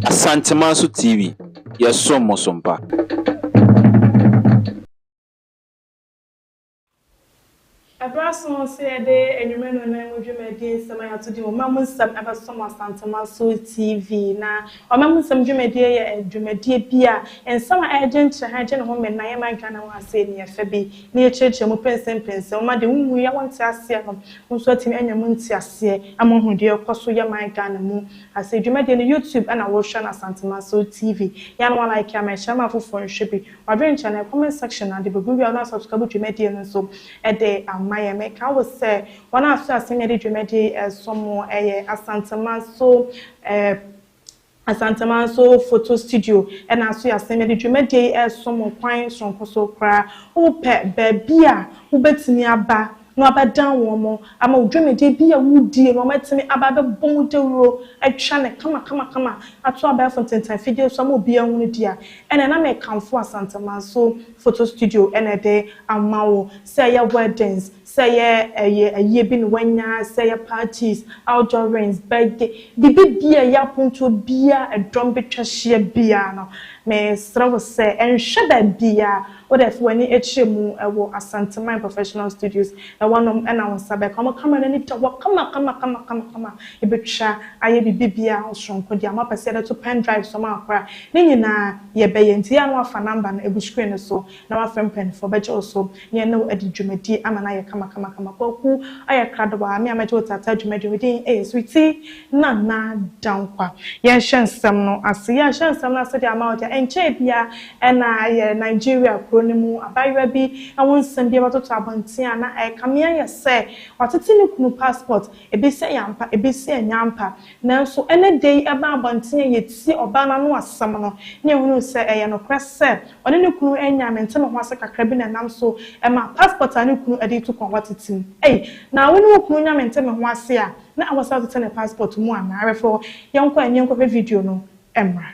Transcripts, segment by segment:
Asantemanso TV, yɛsom mo som pa. Ɛberɛ aso sɛ yɛde Anwummerɛ Nnanan mu dwumadie nsɛm a yɛato din Ɔma Mu Nsɛm bɛsɔ mo Asantemanso TV. Na Ɔma Mu Nsɛm dwumadie yɛ dwumadie bi a nsɛm a ɛregye nkyerɛhan gye ne ho mmɛn na ɛyɛ ma adwene ne ho asɛe ne yɛfɛ bi. na yɛkyerɛkyerɛ mu pɛnsɛmpɛnsɛm. Wɔma deɛ wɔnwuiɛ a wɔnte aseɛ no mo nso atumi anya mu nteaseɛ ama wɔahunu deɛ ɛrekɔ so yɛ man Ghana mu. Na sɛ dwumadie no YouTube ɛna worehwɛ no Asantemanso TV yɛ a na walike ama ɛkyerɛ ama afoforɔ nhwɛ bi. Wadwene nkyɛ na comment section no ade bɛgu wie a na wasubscribe dwumadie no nso de ama yɛn. Meka wo sɛ wɔn a so asɛm yɛde dwumadie yi ɛresom mo ɛyɛ Asantemanso Asanteman nso photo studio na aso yɛasen mede dwumadie yi ɛresom mo kwan soronko so koraa. Wopɛ baabi a wobɛtumi aba na wabɛdan wɔn ama wo dwumadie bi a woredie no wɔatumi aba abɛbɔ mu dawuro atwa no kamakamakama ato abɛɛfo ntentan fidie so ama obiara ahunu di a, ɛneɛ na mekamfo Asanteman nso photo studio na ɛde ama wo sɛ ɛyɛ weddings, Sɛ yɛ ɛyɛ ayie bi na wanya, sɛ ɛyɛ parties, outdoorings, birthday, biribi biaa ɛyɛ apontuo biaa ɛdɔm bɛtwa hyia biaa no, me srɛ wo sɛ ɛnhwɛ baabiaa, wo dɛ fa w'ani kyerɛ mu wɔ Asanteman Professional Studios, ɛwɔ nom na wo nsa bɛka. Wɔn camera no ani da hɔ kama kama kama kama kama, yɛbɛtwa ayɛ biribi biaa ho soronko deɛ moapɛ sɛ yɛde to pen drives mu a koraa, ne nyinaa yɛbɛyɛ. Nti yɛ a na woafa number no agu screen no so. na wafrɛ mpaninfoɔ bɛgye wo so ne yɛne wo adi dwumadie ama no ayɛ kamakamakama. Kwaku ɔyɛ kradobaa, me a mɛgye wo taataa dwumadie no, me din yɛ Sweetie Nana Dankwa. Yɛnhyɛ nsɛm no ase. Yɛnhyɛ nsɛm no ase de ama wo deɛ, ɛnkyɛɛ biara na yɛ Nigeria kuro no mu abaayewa bi ho nsɛm bi abɛtoto abɔnten a na ɛrekame ayɛ sɛ watete ne kunu passport Ebe sɛ ɛyɛ ampa, ebe sɛ ɛnyɛ ampa, nanso ɛnnɛ da yi ɛbaa abɔnten a yɛtiee ɔbaa no ano asɛm no, na yɛhunuu sɛ ɛyɛ nokorɛ sɛ ɔne ne kunu nnya mente ne ho ase kakra bi na ɛnam so ɛmaa passport a ne kunu de retu kwan hɔ atetem. Ei, na wo ne wo kunu nya mente me ho ase a na ɛwɔ sɛ wotete ne passport mu anaa? Referral, Yɛnkɔ ani nkɔhwɛ video no mmra.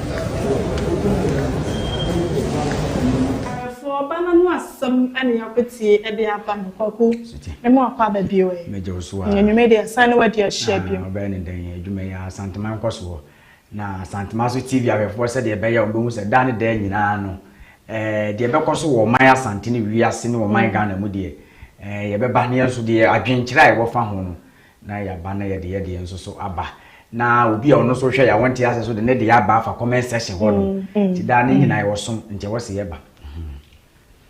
Ɛfoɔ ba na mo asɛm na yɛakɔtie de aba no Kwaku ne mo akɔ aba bio ɛ. Mɛgye wo so aa. Anwummerɛ deɛ ɛsan ne wadi ahyia ah, bio. Wobɛyɛ ne dɛn adwuma yi aa Santema nkɔ soɔ na Santema so TV ahwɛfoɔ sɛdeɛ ɛbɛyɛ a wɔbɛhu sɛ daa ne daa nyinaa no eh, deɛ ɛbɛkɔ so wɔ ɔman Asante ne wiase ne ɔman Ghana mu deɛ eh, yɛbɛba ne yɛn nso deɛ adwenkyerɛ a ɛwɔ fa ho no na yɛaba na yɛde yɛdeɛ nso so aba na obi a ɔno nso hwɛ yɛ a wɔnte ase so de ne deɛ aba afa comment section hɔ no nti daa ne nyinaa ɛwɔ som nti ɛwɔ se yɛba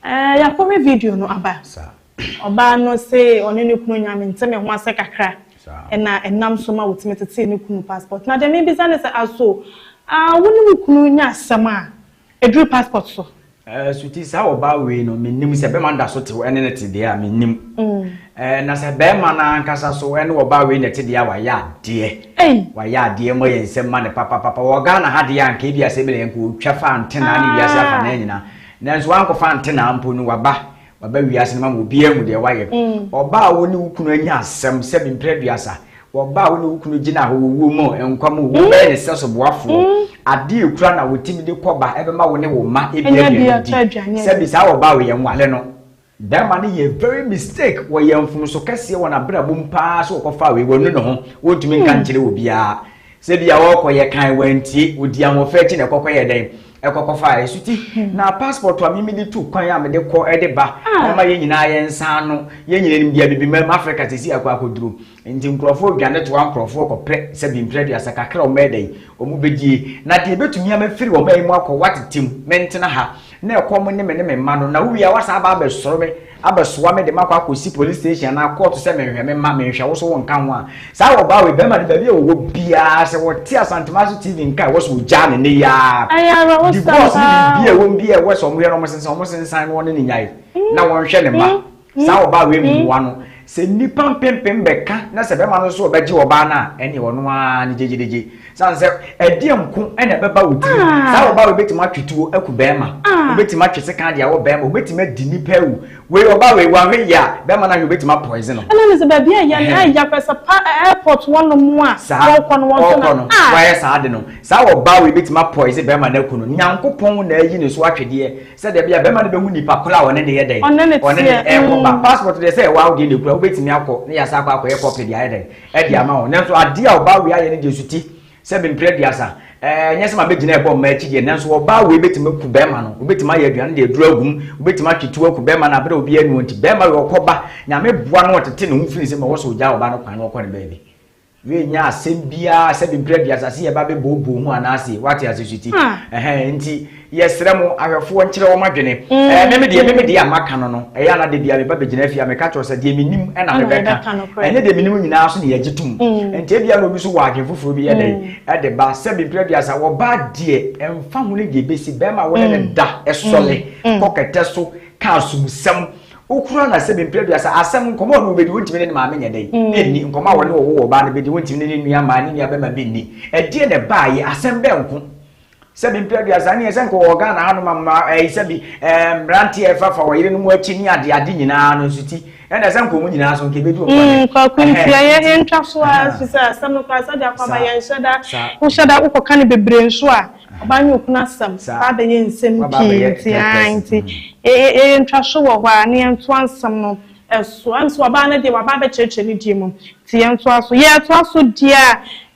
eh, yɛakɔhwɛ video no aba ɔbaa no se ɔne ne kunu nyame nte me ho ase kakra ɛna ɛnam so ma wɔtumi tetee ne kunu passport na deɛ mebisa ne sɛ aso ah, wo ne wo kunu nya asɛm a Ɛduru passport so. Eh, so ti saa ɔbaa wei no mennim sɛ bɛma da so te hɔ ɛne ne te deɛ a mennim mm. eh, na sɛ bɛrima no ankasa so ɛne ɔbaa wei na ɛte deɛ a wayɛ adeɛ wayɛ adeɛ mɔ yɛ nsɛm ma ne papapapa wɔ ghana ha deɛ anka ebi asɛ bi na yɛnka ɔtwa fa ntena ne wiase afa na nyina nanso wankɔfa ntena mpo no waba Maba wiase no mama obiara ahu deɛ woayɛ. Ɔbaa a wo ne wo kunu anya asɛm sɛ bi mprɛ aduasa, ɔbaa a wo ne wo kunu gyina hɔ wɔ wuo mu o, nkwa mu o, wobɛyɛ ne sɛ soboafoɔ. Adeɛ a ɛkura na ɔtumi de kɔ ba ɛbɛma wo ne wo mma ɛbi aduane di. Sɛ bi saa ɔbaa o, yɛnwale no. Bɛrima no yɛɛ very mistake, wɔyɛɛ mfomso kɛseɛ wɔ n'abrabɔ mu paa sɛ ɔkɔfaa wei, wanu ne ho, ɔntumi nka nkyerɛ obiara. Sɛ bia ɔɔkɔ yɛ kan wantie, odi ahoɔfɛ akyi na ɛkɔkɔ yɛ dɛn? Ɛkɔkɔ faa ɛsuti. Na passport a me mede tu kwan a mede kɔ ɛde ba, ɛma yɛn nyinaa yɛn nsa ano. Yɛn nyinaa nim bia Bibiman Africa sisi akɔ akɔduru. Nti nkorɔfoɔ dwane toa nkorɔfoɔ kɔpɛ sɛ bi mprɛ aduasa kakra a wɔbɛyɛ dɛn? Wɔbɛdie. Na deɛ ɛbɛtumi a mɛfiri wɔn man yi mu akɔ, wɔatete mu, mentena ha. Na ɛkɔm ne me ne me mma no, na wowie a woasan aba abɛsɔre me. abɛsoa me de makɔ akɔsi police station anaa kɔɔto sɛ menhwɛ me mma menhwɛ wo so wo nka ho a saa wɔbaa wei bɛrima no baabi a wɔwɔ biara sɛ wɔte asantema so tv nka ɛwɔ so ɔgyaa ne ne yaa divorce ne biribi a ɛwɔ bi a ɛwɔ sɛ ɔmoyɛ no ɔmosensan ɔmosensan no ɔne ne nyae na wɔnhwɛ ne mma saa wɔbaa wei mmoa no Sɛ nnipa mpempem bɛka na sɛ bɛma no nso ɔbɛgye ɔbaa no a, ɛnneɛ ɔno ara ne gyegyedegye. Sane sɛ, ɛdeɛn nko na ɛbɛba wo tirim? Saa ɔbaa wei bɛtumi atwe tuo aku barima, ɔbɛtumi atwe sekan de awɔ barima, ɔbɛtumi adi nnipa awu. Wei, ɔbaa wei, wanhwɛ yie a, barima no ahwɛ, ɔbɛtumi apoison no. Ɛna ne sɛ baabi a yɛn a yɛakɔsa pa airport hɔ nom a wɔrekɔ no, wɔnhwɛ no a. Saa, wɔayɛ saa ade no, saa ɔbaa wei bɛtumi apoison barima no aku no. Nyankopɔn na ayi ne so atwedeɛ. Sɛdeɛ ɛbɛyɛ a bɛrima no bɛhu nipa korɔ a ɔne no yɛ dɛn? Ɔne no teɛ. Ɔne no ɛɛkɔ ba. Passport deɛ sɛ ɛwɔ a wodeɛ na ɛkura, wobɛtumi akɔ na yɛasan akɔ akɔyɛ copy de ayɛ dɛn? Ɛde ama wo. Nanso adeɛ a ɔbaa wei ayɛ no deɛ suti sɛ mempere aduasa. Ɛɛ nyɛ sɛ ma bɛgyina ɛbɔ mmaa akyi deɛ, nanso ɔbaa wei bɛtumi aku bɛrima no. Wobɛtumi ayɛ aduane de aduro agu mu, wobɛtumi atwe tuo aku bɛrima no aberɛ a obiara nni hɔ nti. Bɛrima wei ɔkɔ ba, Nyame boa na ɔtete ne ho firi nsam a, ɔwɔ sɛ ɔgyaa ɔbaa no kwan na ɔkɔ ne baabi. Wiɛ nyɛ asɛm biara sɛ bebira dua asase yɛ ba bɛ bɔɔ bɔɔ mu anaa se wate ase so ti ɛhɛn nti yɛ srɛ mo ahwɛfoɔ nkyerɛ wɔn adwene ɛɛ me me deɛ me me deɛ a maka no no ɛyɛ ana de bia me ba bɛ gyina fie a meka kyerɛ sɛ deɛ me nim ɛna me bɛ ka ɛnyɛ deɛ me nim nyinaa so ne yɛ gye tom nti ebia na obi so wɔ adwene foforɔ bi yɛ dɛ ɛde ba sɛ bebira dua sa wɔ ba deɛ ɛnfa ho ne deɛ bɛsi bɛrima wɔne ne da ɛsɔle kɔ kɛtɛ so ka asumsɛm Wokura no asɛm mpere aduasa asɛm nkɔmɔ a wobɛdi wontumi ne ne maame nyɛ dɛn mm. ɛnni nkɔmɔ a wɔne wɔwo wɔ baa no bɛdi wontumi ne ne nua maa ne nua bɛma bi nni ɛdeɛ na ɛbaayɛ asɛm bɛɛ nko sɛ bi mpere aduasa ne yɛ sɛ nkɔwɔ Ghana ha no ma mma ɛyi sɛ bi mmeranteɛ ɛfa fa wɔ yere no mu akyi ne ade ade nyinaa no nso ti ɛna sɛ nkɔmɔ nyinaa so nkɛbɛdi wɔn kwan mm, kwaku ntia yɛ yɛntwa so a fi sɛ asɛm no kora sɛ de akɔba yɛnhyɛ da wohyɛ da wokɔka no bebree nso a Ɔbaa nye okunu asɛm aba abɛyɛ nsɛm pii ntsi aah ntsi yɛyɛ ntwaso wɔ hɔ a na yɛntoa nsɛm no so. Ɛno so ɔbaa no deɛ waba abɛkyerɛkyerɛ ne deɛ mu ntsi yɛntoa so. Yɛtoa so deɛ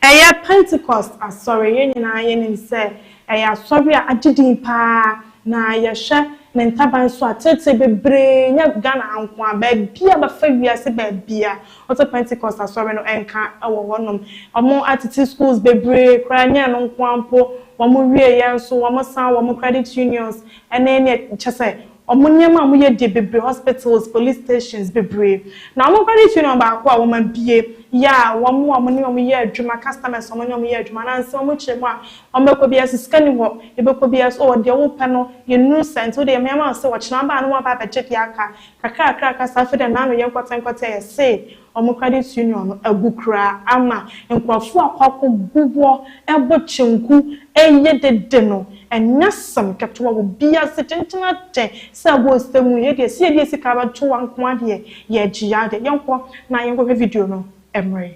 a ɛyɛ Pentecost Asɔre, yɛn nyinaa yɛnim sɛ ɛyɛ asɔre a agye din paa na yɛhwɛ ne ntaban so a tete bebree nyɛ Ghana ha nko a baabi a bɛfa wiase baabi a Ɔsɛ Pentecost asɔre no nka wɔ hɔ nom. Ɔmo atete schools bebree koraa nyɛ ɛno nko ara mpo, wɔn wie yɛ nso wɔn san wɔn credit unions ɛne neɛ kyɛsɛ wɔn nneɛma a wɔn yɛ die bebree hospitals, police stations bebree. Na wɔn credit union baako a wɔn abue yɛ a wɔn a wɔn ne wɔn yɛ adwuma customers a wɔn ne wɔn yɛ adwuma anaa nsɛm a wɔn kyerɛ mu a wɔn bɛkɔ biara so sika ni hɔ yɛbɛkɔ biara so oh deɛ wopɛ no yɛnnuru saa nti wodeɛ yɛmɛma wo sɛ ɔkyena ba a na waba abɛgye deɛ aka Kakrakra kasa fi dɛ n'ano yɛ nkɔtsɛnkɔtsɛ se ɔmo credit union no agu koraa ama nkorɔfo akɔ akɔ bobɔ bo kyenku eye dede no ɛnyɛ asem ketewa wɔ biase tenten ate sɛ wɔ ose mu yɛ deɛ se yɛde yɛ sika bɛto wa nkoa deɛ yɛ gyea deɛ yɛnkɔ na yɛnkɔ hwɛ video no ɛmere.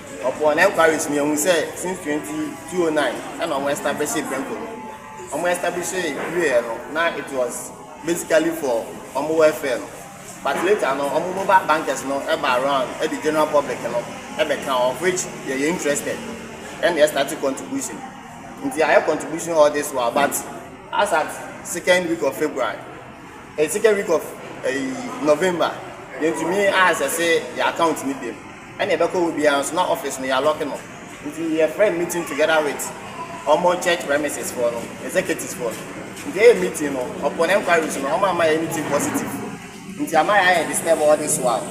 Upon enquiries me ehu sɛ since twenty two oh nine ɛna ɔmo establishee Premco no. Ɔmo establishee wieɛ no na it was basically for ɔmo welfare no but later no ɔmo mobile bankers no ɛba around ɛde general public no ɛbɛka ho of which yɛyɛ interested ɛna yɛ starte contribution nti yɛayɛ contribution all this while but as at second week of February eh, second week of eh, November yɛntumi access yɛ account no biom. Ɛna yɛbɛkɔ hɔ biara nso na office no yɛalɔke no nti yɛfrɛ meeting together with wɔn church premises foɔ no executives foɔ no nti yɛyɛ meeting no upon enquiry so no wɔn amma yɛn anything positive nti ama yɛayɛ disturb all this while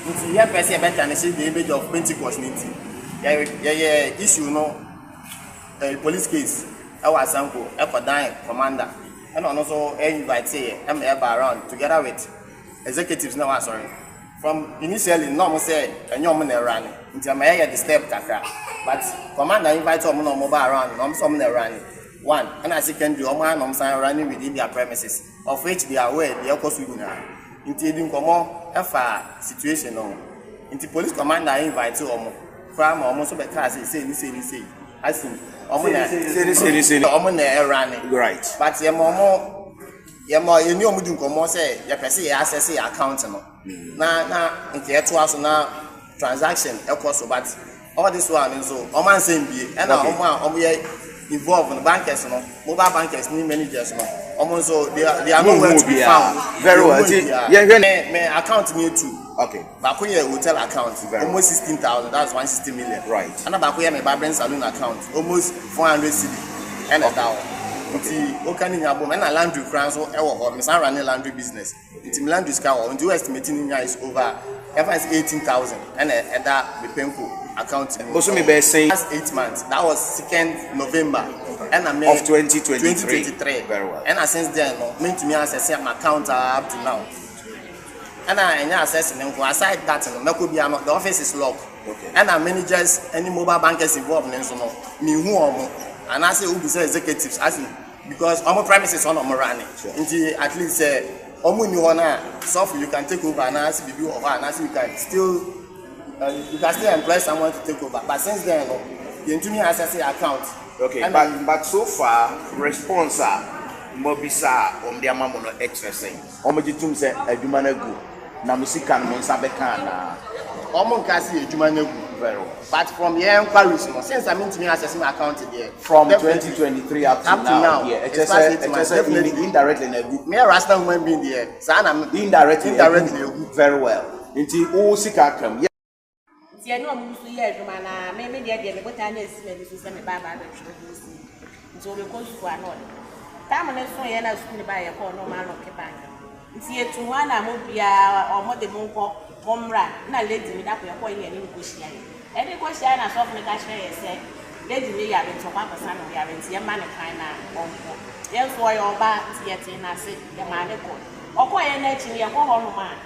nti yɛmpɛ sɛ yɛbɛtanihye the image of Pentecost no nti yɛyɛ issue no eh, police case ɛwɔ Asanko ɛkɔdan commander ɛna ɔno nso invite yɛ ɛma yɛba around together with executives na ɛwɔ asɔre From initially no na ɔmo sɛ ɛnyɛ ɔmo na ɛwura ne nti ɛma yɛyɛ disturb kakra but commander invite ɔmo na ɔmo ba around na ɔmo sɛ ɔmo na ɛwura ne one ɛna secondary ɔmo ara na ɔmo san ɛwura ne within their premises of which they are aware deɛ ɛkɔ so nyinaa nti edi nkɔmɔ ɛfa situation no nti police commander invite ɔmo koraa ma ɔmo nso bɛ kaa sɛ sei ne sei ne sei asin ɔmo na ɔmo na ɛwura ne right but ɛma ɔmo. Yɛma yɛne wɔn di nkɔmmɔ sɛ yɛpɛ sɛ yɛ access yɛ account no na na nka yɛtoa so na transaction ɛkɔ so but all this while no nso wɔn ansɛn bie ɛna wɔn a wɔn yɛ involved no bankers no mobile bankers ne managers no wɔn nso they are they are nowhere to be found. Very well. Yɛhwɛ ne account mi etu. Okay. Baako yɛ hotel account almost sixteen thousand that's one sixty million right ɛna baako yɛ me barbering saloon account almost four hundred cedi ɛna ɛda hɔ nti woka ne nyinaa bom ɛna laundry koraa nso ɛwɔ hɔ mesan ra ne laundry business nti me laundry sika wɔ hɔ nti wo estimate ne nyinaa is over ɛfa is eighteen thousand ɛna ɛda me penko account mu bosome bɛɛ sɛn last eight months that was second november ɛna me of twenty twenty three ɛna since then no mentumi asɛsɛ my account up to now. Ɛna ɛnyɛ assessing nko, aside that no mɛkɔ bia no the office is lock. Okay. Ɛna managers ɛne mobile bankers involved ne nso no mehu wɔn anaasɛ wobu sɛ executives afi because wɔn premises wɔn na wɔn run nti at least sɛ wɔn nni hɔ no a sɔfo you can take over anaasɛ biribi wɔ hɔ anaasɛ you can still uh, you can still employ someone to take over but since then no yɛntumi access your account. Okay, and but, but so far response a mobisa wɔn de ama mo no ɛkyerɛ sɛn. Wɔgye tom sɛ adwuma no agu na mo sika no mo nsa bɛka anaa? Wɔn nkaa sɛ yɛ adwuma no agu. Very well. But from yɛn enquiries no, since a mentumi access me account deɛ, From twenty twenty three up to now deɛ, ɛkyerɛ sɛ ɛkyerɛ sɛ in indirectly na agu. Me yɛ rational human being deɛ, saa na me. Indirectly agu. Indirectly agu. Very well. Nti wo sika aka mu. Nti ɛne ɔmo gu so yɛ adwuma no ara, me me deɛ deɛ me botae no asi m'ani so sɛ me ba aba abɛtwerɛ ho nsɛm bi. Nti ɔbɛkɔ sukuu a na ɔde kɔ. Tam no soeɛ a na sukuu no baa yɛkɔɔ na ɔmo alɔke bank no. Nti yɛtu hɔ a na mo biara ɔmo de mo nkɔ mo mmra na lady no da kɔ yɛkɔɔ yɛ ne no kɔ hyiaeɛ. Yɛde kɔ hyiaeɛ na sɔfo no ka kyerɛɛ yɛn sɛ lady no yare nti ɔkɔ akɔsa ne ho yareɛ nti yɛmma no kwan na ɔnkɔ. Yɛn nso ɔyɛ ɔbaa nti yɛtee n'ase yɛmaa no kɔe. Ɔkɔeɛ no akyi no yɛkɔ hɔ nom a,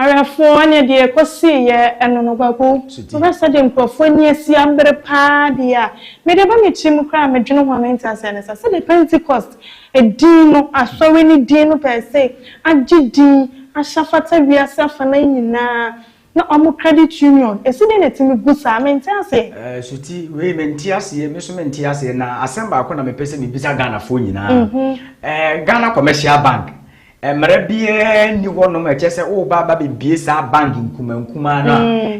Awerɛfoɔ ɛneɛ deɛ ɛkɔsii yɛ ɛno no Guagu wohwɛ sɛdeɛ nkurɔfoɔ ani asi abere paa deɛ a mede ɛba me tiri mu koraa a medwene ho a mente aseɛ ne saa sɛdeɛ Pentecost ɛdin no asɔre no din no pɛɛsei agye din ahyɛ afata wiase afanan nyinaa Na ɔmo credit union esi dɛn na etumi gu saa? Mente aseɛ. Ɛɛ suti wei me nte aseɛ me nso me nte aseɛ na asɛm baako na me pɛ sɛ me bisa Ghana foɔ nyinaa ɛɛ Ghana commercial bank mmara biara ni hɔ nom ɛkyɛ sɛ o ba ba bɛ bie saa bank nkuma nkuma no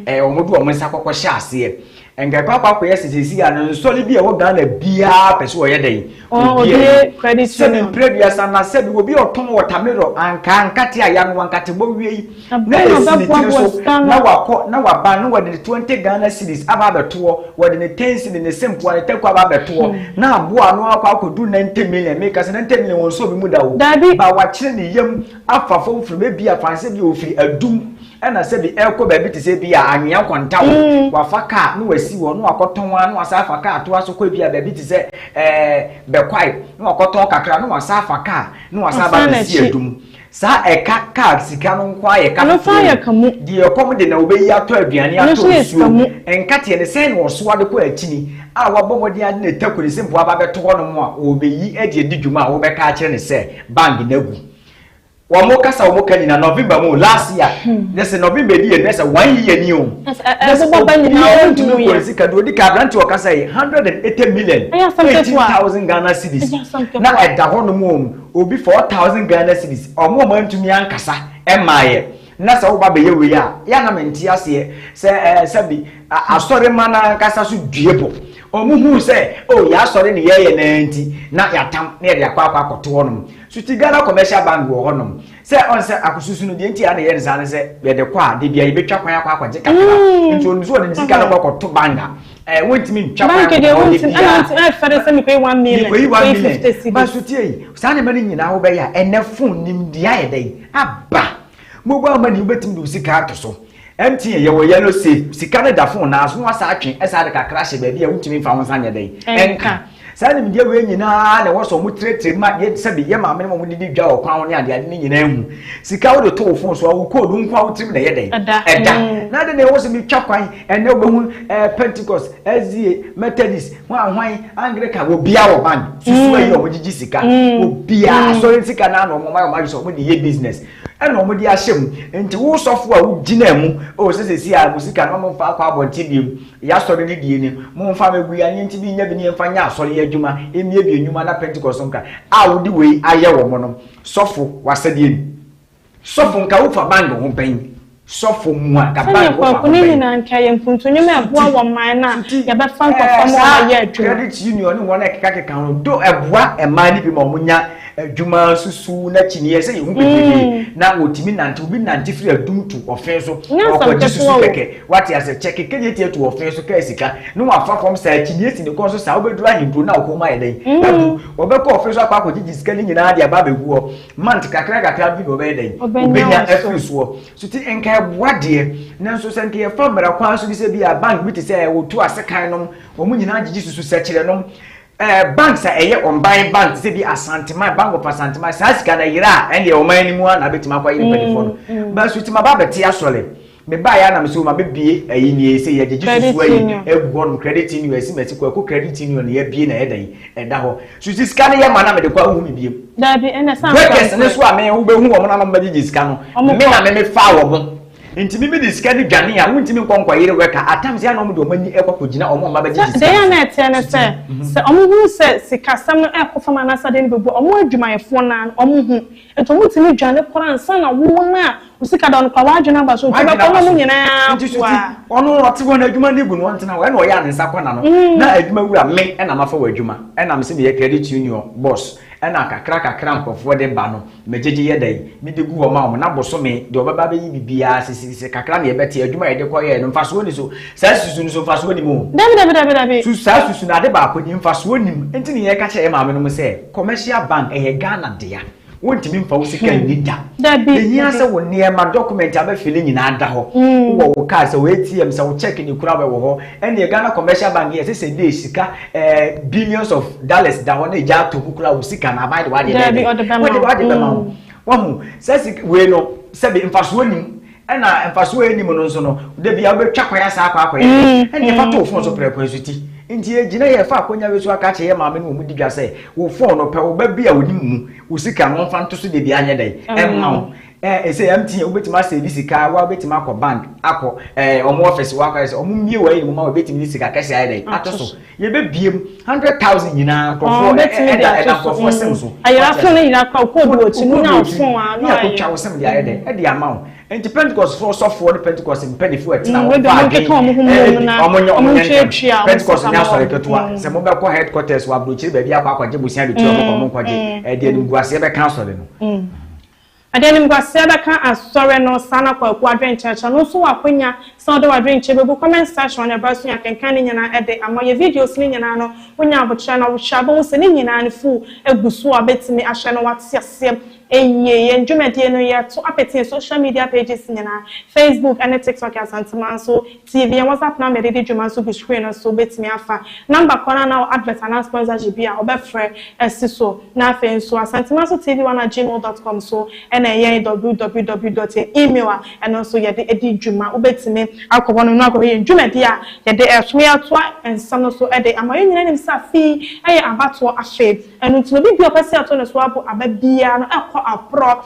a ɛɛ wɔn de wɔn nsa kɔkɔ hyɛ aseɛ Nka ɛkɔ akɔ akɔyɛ sɛ sɛsi a no nsɔre bi a ɛwɔ Ghana biara pɛ sɛ ɔyɛ dɛn ɔdie sɛbi mprɛduasa na sɛbi obi a ɔtɔn wɔtamerɔ ankaa nkate a yanoa nkatebɔ wie yi na ɛsi ne tiri so na wakɔ na waba na wɔde ne 20 Ghana cedis aba abɛtoɔ wɔde ne 10 cedi ne sempoa ne tɛkɔ aba abɛtoɔ hmm. na aboa ano akɔ akɔdu 90 million meka sɛ 90 million wɔn nso obi mu da o ba wakyerɛ ne yam afa fam fam ebi a fan sɛ bi ofiri adum ɛna sɛ bi ɛkɔ baabi te sɛ bi a anwea kɔntaw mm. wafa kaa na wasi hɔ na wakɔtɔn a na wasa afa kaa to aso kɔ bi a baabi te sɛ ɛɛ bɛkwae na wakɔtɔn kakra na wasa afa kaa na wasa aba bɛsi adum saa ɛka kaa sika no nko ayɛ ka foforɔ deɛ ɛkɔm de na wobɛyi atɔ aduane atɔ nsuo mu nkateɛ ne sɛn na ɔsoa de kɔ akyini a wabɔ mmɔden ade na ɛtakuri sɛ mpo aba bɛto hɔ nom a ɔbɛyi ɛde adi dwuma a wobɛka akyerɛ ne sɛ Bang no agu wɔn kasa wɔn ka nyina november mu last year ne sɛ november di yɛ ne sɛ one year ni o ne sɛ obiara ntumi nkɔ nsi ka deɛ odi ka aberante wɔ kasa yi hundred and eighty million eighteen thousand ghana cedis na ɛda hɔ nom wɔn obi four thousand ghana cedis wɔn wɔn ntumi ankasa ɛmaa yɛ. Na sɛ woba bɛyɛ wei a, yɛ a na mente aseɛ sɛ ɛɛ sɛbi asɔremma no ankasa so due po. Wɔn huu sɛ, oh, yɛn asɔre ne yɛyɛ no ara nti, na yɛatam na yɛde akɔ akɔ akɔto hɔnom. So te Ghana Commercial Bank wɔ hɔnom? Sɛ ɔn sɛ akɔsusu no, deɛ nti a na yɛyɛ no saa ne sɛ, yɛde kɔ a, da biara yɛbɛtwa kwan akɔ akɔgye kakra. Nti ɔnim sɛ ɔde ne sika no kɔ akɔto banga. Eh, wontumi ntwa kwan wɔ hɔ de bia. Ɛna nti ɛfɛ de sɛ mekɔyi one million. Mekɔyi one million. Ba so tie yi, saa nneɛma no nyinaa wobɛyɛ a ɛnɛ fon nimdeɛ ayɛ dɛ yi aba. Mobile money wobɛtumi de wo sika ato so. MTN yɛwɔ yellow safe sika no da fon naa so na wasa atwe ɛsa de kakra hyɛ baabi a wontumi mfa wo nsa nyɛ dɛ yi. Ɛnka. Saa nimdeɛ wei nyinaa na ɛwɔ sɛ wɔn tiretire ma yɛ sɛbi yɛ maame ne wɔn didi dwa wɔ kwan ho ne adeade ne nyinaa mu. Sika wode to wo fon so a wo code wo nko a wo tirim na ɛyɛ dɛn? Ɛda. Ɛda. Na ade na ɛwɔ sɛ metwa kwan ɛnɛ wobɛhu ɛɛ Pentecost, SDA, Methodist, hwan hwan, Anglican, obiara wɔ bank. Susu ayi a wɔgyegye sika. Obiara asɔre sika no ara na wɔn ayɛ wɔn adwene sɛ wɔde yɛ business. Ɛna wɔn de ahyɛ mu. Nti wo sɔfo a wogyina mu, o sɛ sɛsi a mo sika no mo nfa akɔ abɔnten bio, yɛ asɔre no die ni, mo nfa ma gu yi anyɛ nti bi nya bi ni nfa nyɛ asɔre adwuma, mmie bi nnwuma na pentecost no nka a wo de wei ayɛ wɔn no, sɔfo w'asɛdeɛ ni. Sɔfo nka wo fa bang ho bɛn. Sɔfo mua ka ba Yehowa ho bɛn? Sɛnea Kwaku ne Nina nka yɛ mpuntu nnwom ɛboa wɔ man no a yɛbɛfa nkurɔfoɔ ma wɔayɛ adwuma. Saa credit union ne wɔn a ɛkekakeka ho do ɛboa mmaa no bi ma wɔn nya adwuma nso so na akyini ɛsɛ yɛhu bebrebe na wɔtumi nante obi nante firi adum to ɔfee so ɔkɔgye susu kɛkɛ wate asɛ kyɛ keke nyɛ tie to ɔfee so kaa sika na wafa fam saa akyini si ne kɔn so saa wobɛduru ahenkuro na ɔkɔn mu ayɛ dɛn abu wɔbɛkɔ ɔfee so akɔ akɔgyegye sika ne nyinaa de aba abɛgu hɔ Month kakra kakra bi na ɔbɛyɛ dɛn ɔbɛnya afiri soɔ so ti nka ɛboa deɛ nanso sɛ nka yɛfa mmara kwan so bi sɛ bi a bank bi te sɛ ɛwotu ase kan nom wɔn nyinaa gyegye susu sɛkyerɛ nom ɛɛ eh, banks a ɛyɛ ɔmban bank te sɛ bi asanteman bank of asanteman saa sika na yera a ɛndeɛ ɔman no mu a na abɛtumi akɔ ayɛ mpanimfoɔ no mm, mm. bɛso ti ma ba bɛte asɔre Me baeɛ a na me sɛ o ma bɛ bie ayi nie sɛ yɛ gyegye susu ayi egu hɔ nom credit union ɛsi mɛ ti kwaku credit union na yɛ bie na yɛ dɛn ɛda hɔ susu sika no yɛ ma na me de kɔ ahu me biem breakers no so a me wo bɛ hu wɔn na nom bɛ gyegye sika no me na me me faa wɔn nti me me de sika no dwane a wuntumi nkɔ nkɔ yere wɛka atam sɛ ɛna wɔn de wɔn ani ɛkɔ kɔ gyina wɔn a wɔn abɛ gyegye sika no so. Deɛ yɛn na ɛteɛ ne sɛ sɛ wɔn hu sɛ sika sɛm no ɛkɔ fam anaasɛ adeɛ no bɛ bu wɔn adwumayɛfoɔ naa no wɔn hu Nti ɔmo tumi dwane koraa ansa na wo wɔn a wo sika da hɔ no koraa w'adwene aba so nti wobɛkɔ na ɔmo nyinaa aboa. Nti so ti ɔno ɔte hɔ na adwuma no gu no ɔntena hɔ ɛna ɔyɛ a ne nsa kɔ na no na adwuma wura me ɛna mafa wɔ adwuma ɛna me se meyɛ credit union boss ɛna kakra kakra nkorɔfoɔ de ba no me gyegye yɛ dɛn me de gu hɔ ma wɔn na bosome deɛ ɔbɛba abɛyi bibiaa sisisisi kakra na yɛbɛte adwuma a yɛde kɔ yɛɛ no mfasoɔ ni so saa susu no so mfasoɔ nim o. Dabi dabi dabi dabi. Susu saa susu no ade baako ni mfasoɔ nim nti ne yɛka kyerɛ yɛ maame nom sɛ. Commercial bank ɛyɛ Ghana dea. Wontumi mfa wo sika nni da. Ehia sɛ wo nneɛma, document a bɛfili nyinaa da hɔ. Wowɔ wo card, sɛ wo ATM, sɛ wo cheque de kura wɔ hɔ. Ɛnneɛ Ghana Commercial Bank yɛ ɛsɛ sɛ ɛde sika ɛɛ billions of dollars da hɔ na ɛgya ato mu kura wo sika no aban de w'adeɛ bɛyɛ dɛ? W'adeɛ bɛma wo. Wahu? Saa sika wei no sɛbe mfasoɔ nnim. ɛna mfasoɔ a ɛnim no nso no da bia wobɛtwa kwan asa akɔ akɔyɛ mm, ɛne yɛfa mm, too fon so mm. prɛko nso ti nti yɛgyina yɛ fa akɔnya wei so aka kyerɛ yɛ maame no wɔ mu di dwa sɛ wo fon no pɛ wo ba bi a ɔnim mu wo sika no mfa nto so da bia anyɛ dɛn ɛmma wo ɛsɛ ɛm ti wobɛtumi asɛ bi sika wa wobɛtumi akɔ bank akɔ ɔmo ɔfɛs wakɔ ayɛ sɛ ɔmo mmie wɔ ayɛ no mu ma wobɛtumi ne sika kɛse ayɛ dɛn ato so yɛbɛbiem hundred thousand nyinaa nkurɔfoɔ ɛda ɛda nkurɔfoɔ sɛm so ayira so ne nyinaa kɔ kɔ do akyi mu na ɔfon a na ayɛ kotwa wosɛm de ayɛ dɛ ɛde ama wo nti pentecost foɔ sɔfoɔ ne pentecost mpanyinfoɔ ɛtena hɔ paa dwen ɛdi ɔmo nyɛ ɔmo nyɛ ntɛm pentecost nyɛ asɔre ketewa sɛ mo bɛ kɔ headquarters wɔ aburokyire baabi akɔ akɔgye bosia de tia ɔmo kɔ ɔmo nkɔgye ɛde animguaseɛ bɛka asɔre no Ɛde animguaseɛ bɛka Asɔre no, saa na Kwaku adwene nkyerɛkyerɛ no nso wɔ akwanya sɛ ɔde w'adwene kyerɛ bɛgu comment section hɔ na ɛberɛ so yɛn akenkan ne nyinaa ɛde ama yɛn videos no nyinaa no wonya aboterɛ na wohwɛ a wobɛhu sɛ ne nyinaa no full gu so a wobɛtumi ahwɛ na woate aseɛ yie yɛn dwumadie no yɛto apete yɛn social media pages nyinaa Facebook ne TikTok Asantema nso TV a wɔdze apenama dze dzi dwuma so gu screen no so betumi afa. Number kor no a nna ɔwɔ advert anaa sponsorship bi a wɔbɛfrɛ si so. Na afei so, Asantema so TV one at gmail dot com so na yɛn www dot yɛ email a ɛno so yɛdze dzi dwuma. Wobetumi akɔ hɔnom na akɔhwɛ hɛn dwumadzi a yɛdze reto na yɛatoa nsɛm no so dze ama. Hɛn nyina nyim sɛ afe yi yɛ abatoɔ afe. Ɛno ntsi no, obi biara a ɔpɛ sɛ ɔto no so abo aba biara no kɔ aprɔ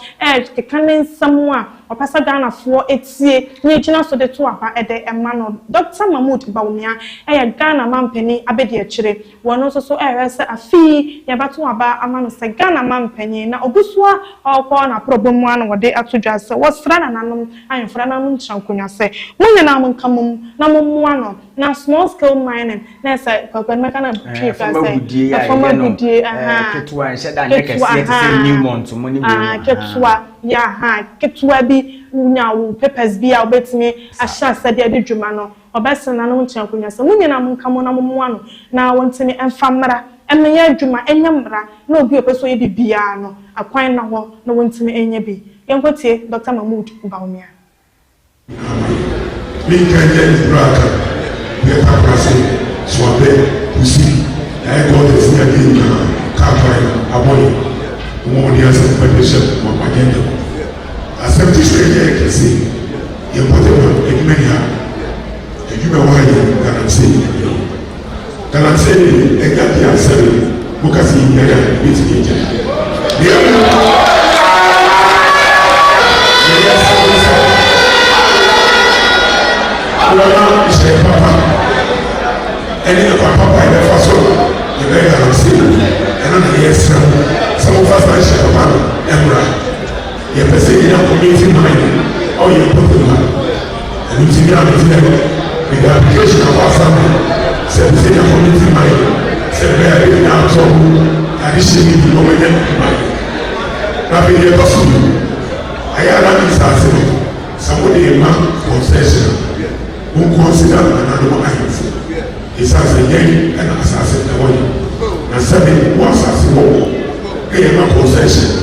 keka ne nsɛm a. Ɔpɛ sɛ Ghanafoɔ tie na ɛgyina so de to aba de ma no. Dɔkta Mahmood Bawumia yɛ Ghana manpanin abadiakyire. Wɔno nso so rehwɛ sɛ afe yi yɛbɛto aba ama no sɛ Ghana manpanin. Na ɔgu so ara ɔrekɔ n'aprɔbɔ mu ara na wɔde ato dwa sɛ wɔsra nananom ahemfo, nananom nkyerɛnkonwa sɛ mo nyinaa monka mmom na mommoa no na small scale mining, na sɛ kwakwani mɛka na twi fa sɛ ɛfam agudie ketewa nhyɛ da nyɛ kɛseɛ te sɛ newmont mo ne wei mu ketewa yɛ aha ketewa bi nya wo papers bi a wobɛtumi ahyɛ asɛ de adi dwuma no ɔbɛsene nanom nkyɛn akonnwa sɛ mo nyinaa mo nka mo na mo mmoa no na wɔntumi mfa mmara mmɛyɛ adwuma ɛnyɛ mmara na obi a ɔpɛ sɛ ɔyɛ biribiara no akwan na hɔ na wɔntumi nyɛ bi yɛnkɔtie Dɔkta Mahmood Bawumia. Amen. Me nka nyɛ ne bra ka. Yɛ ka kura se, so abɛ, kusi, na yɛ kɔɔ tɛ si adi nka, ka kura yɛ, abɔ yɛ. Wɔn wɔn de asɛm pɛ de hyɛ wɔn wɔn agenda. Asɛm ti sɛ yɛ kɛse, yɛ pɔtɛ wɔn adwuma ni ha. Adwuma wɔ ha yɛ galamsey. Galamsey ne yɛn agya di asɛm yi moka sɛ yɛnyan a yɛbɛtumi agyae na mmom yɛyɛ sɛne sɛ wɔma nhyɛɛ papa ɛne ɛkwa papa a yɛbɛfa so a yɛbɛyɛ galamsey no ɛno na yɛsrɛ mo sɛ momfa saa nhyɛɛ papa no mmra Yɛpɛ sɛ yɛnya community mind a ɔyɛ popular. Ɛno nti me a mete dɛ mede application aba afa me sɛ ɛpɛ sɛ yɛnya community mind sɛ ɛbɛyɛ a yɛbɛnya atɔ mu adehyɛ bi na wɔanya adwuma yɛ. Na afei deɛ ɛtɔ so mmienu, ayɛ a na me nsase no sɛ wode rema concession a, wonkɔnsida nananom ahemfo ɛsiane sɛ yɛn na asase no wɔ yɛn na sɛbe wo asase wɔ hɔ na yɛma concession a,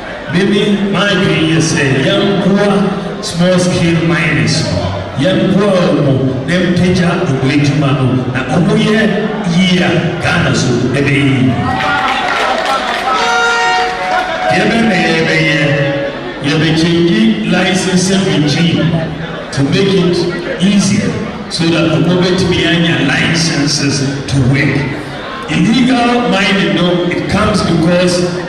Me ne m'adwene yɛ sɛ yɛmboa small scale miners no, yɛmboa ɔmo na yɛmpagya ɔmo adwuma no, na ɔmo yɛ yie a Ghana so ɛbɛyɛ yie. Deɛ bɛn na yɛbɛyɛ? Yɛbɛ change licensing regime to make it easier so that ɔmo bɛtumi anya licenses to work. Illegal mining no it comes because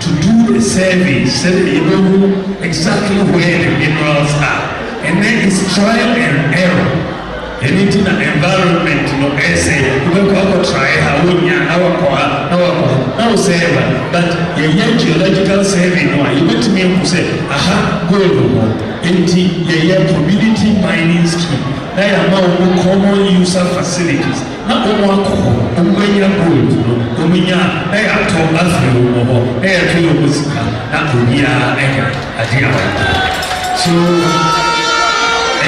to do a survey sɛdeɛ yɛbɛhu exactly where the minerals are and then it's trial and error ɛno nti na environment no ɛsɛ wobɛkɔ akɔtrae ha wonya na wakɔ ha na wakɔ ha na wo sɛ ɛba but yɛyɛ geological survey no a yɛbɛtumi ahu sɛ aha gold wɔ hɔ enti yɛyɛ community mining scheme na yɛama wɔn common user facilities Na ɔmo akɔ hɔ, ɔmo anya gold no, ɔmo nya a, na yɛatɔ afri ɔmo hɔ, na yɛto yɛ ɔmo sika, na obiaa anya ade a ɔpɛ. So,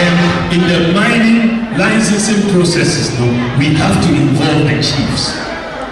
and in the mining licensing processes no, we have to involve the chiefs.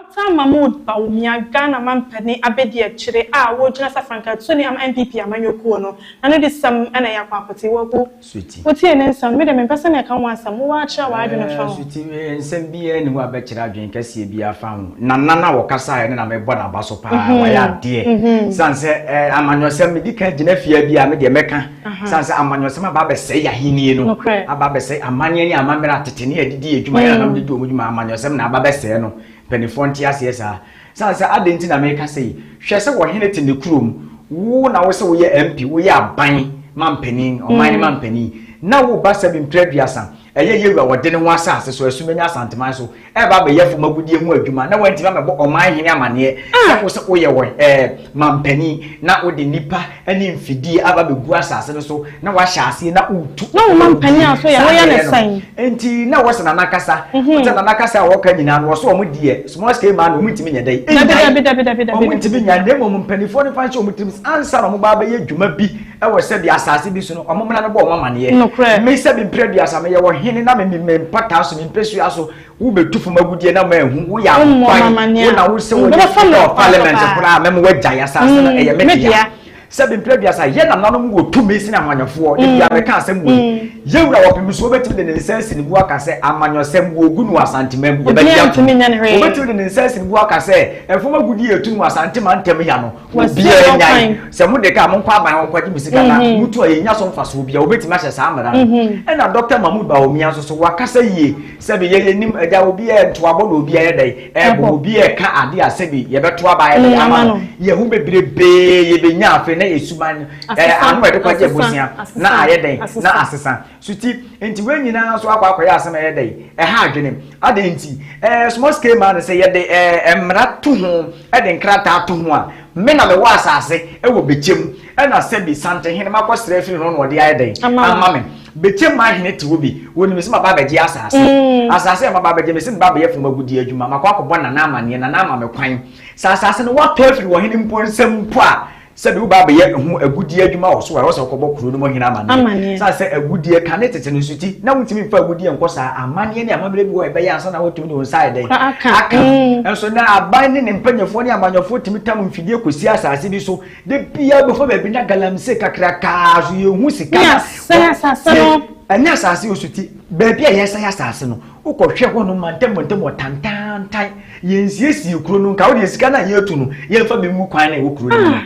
After Mahmoud Bawumia, Ghana mampanin abadiakyire a ɔregyina sɛ frankaatuni ama NPP amanyɔ kuo no, n'ano de sɛm na ɛyɛ akwakote. Wagu. Sweety. Wotie ne nsɛm, me deɛ mempɛ sɛ meka ho asɛm, wowɔ ara kyerɛ w'adwene fa ho. Sweety, nsɛm biara nni hɔ a bɛkyerɛ adwene kɛseɛ biara fa ho. Nana no a ɔkasaeɛ no na mebɔ n'aba so pa ara, wayɛ adeɛ. Ɛsiane sɛ amanyɔsɛm, medi kan gyina fie ha bi a, me deɛ mɛka. Sane sɛ amanyɔsɛm aba abɛsɛe yɛ ahenni no, aba abɛsɛe amanneɛ ne amammerɛ atete ne adidi yɛ adwuma yɛ nanam de di wɔn dwuma amanyɔsɛm na aba abɛsɛe no. Mpanimfoɔ nte aseɛ saa. Sane sɛ adɛn nti na meka sɛ yi? Hwɛ sɛ ɔhene te ne kurom, wo na wo sɛ woyɛ MP, woyɛ aban mampanin, ɔman no mampanin, na wo ba sɛ bi mprɛ aduasa. Ɛyɛ Yehu a ɔde ne ho asase so asumanyi Asanteman so reba abɛyɛ fam agudeɛ ho adwuma na wantumi ammɛbɔ ɔman hene amanneɛ sɛ wo sɛ woyɛ wɔn ɛɛ mampanin na wode nnipa ne mfidie aba abɛgu asase no so na wahyɛ aseɛ na wotu na wo mampanin a so yɛ woyɛ ne sɛn nti na wɔsɛ nana kasa mhm. wɔsɛ nana kasa a wɔka nyinaa no wɔsɛ wɔn deɛ small scale man wɔn ntumi nyɛ dɛ wɔn ntumi nya na mmom mpanimfoɔ no fa nhyɛ wɔn tirim ansa na wɔn ba abɛyɛ dwuma bi ɛwɔ sɛ bi asase bi so no ɔmo mmara no bɔ ɔmo amaneɛ nokorɛ me sɛ bi mpere duasa meyɛ wɔ hene na me me mpataa so me mpesua so wobɛtu fam agudeɛ na maahu woyɛ akwan wo na wo sɛ wɔyɛ fɔ parliament koraa mɛma woagyae asase no mm, ɛyɛ me dea sɛ bi mpere duasa yɛ nananom wɔ tumi sene amanyafoɔ de bia mm. mɛka asɛm wei mm. yɛwura wɔ pem so wobɛtumi de ne nsa asi ne bu aka sɛ amanyɔsɛm wɔgu no asantema mu yɛbɛgye atom wobɛtumi de ne nsa asi ne bu aka sɛ ɛfam agudeɛ ɛtu no asantema ntam ya no obi a ɛnya yi sɛ mo de ka mo nkɔ aban hɔ kɔgye mo sika na mhm. mo tu a yɛnya so mfasoɔ bi a wobɛtumi ahyɛ saa mmara no mhm. ɛna dɔkta mahmud baomia nso so wakasa yie sɛbi yɛyɛ nim agya obi a ntoabɔ na obi a yɛ dɛn ɛbɔ obi a ɛka ade a sɛbi yɛbɛto aba yɛ dɛn ama no yɛ ho bebrebee yɛbɛnya afei na ɛsuman ɛɛ ano ɛde kɔgye abusua na ayɛ dɛn na asesa So ti nti wei nyinaa nso akɔ akɔyɛ asɛm a ɛyɛ dɛ ɛha adwene? Adɛn nti? Ɛɛ small scale man sɛ yɛde ɛɛ mmara to ho de nkrataa to ho a, me na mewɔ asase wɔ Bekyɛ mu ɛna sɛbi Santehene makɔsrɛ afiri no na ɔde ayɛ dɛn? Ama me. Bekyɛ mu ahene te hɔ bi, wɔnim sɛ maba abɛgye asase. Asase a maba abɛgye mese meba abɛyɛ fam agudeɛ adwuma, makɔ akɔbɔ Nana amaneɛ, Nana ama me kwan. Sɛ asase no wɔtɔ afiri ɔhene mpo nsam mpo a, sɛbi wo ba bɛyɛ ho agudie adwuma wɔ so a wɔsɛ ɔkɔbɔ kuro no mu hene amaneɛ saa sɛ agudie ka ne tete no so ti na wontumi mfa agudie nkɔ saa amaneɛ ne amammerɛ bi wɔ ɛbɛyɛ ansa na wotumi de wo nsa ɛdɛn aka mm. nso na aban ne ne mpanyafoɔ ne amanyɔfoɔ tumi tam mfidie kɔsi asase bi so de bia bɛfa baabi na galamse kakrakaa so yɛhu sika ɛnyɛ asase wɔ so ti baabi a yɛsɛe asase no Wokɔhwɛ hɔnom mantamuntam wɔ tantaantan. Yɛnsiesiee kuro no nka. Wodeɛ sika no a yɛatu no, yɛmfa bi ngu kwan no a ɛwɔ kuro no mu no.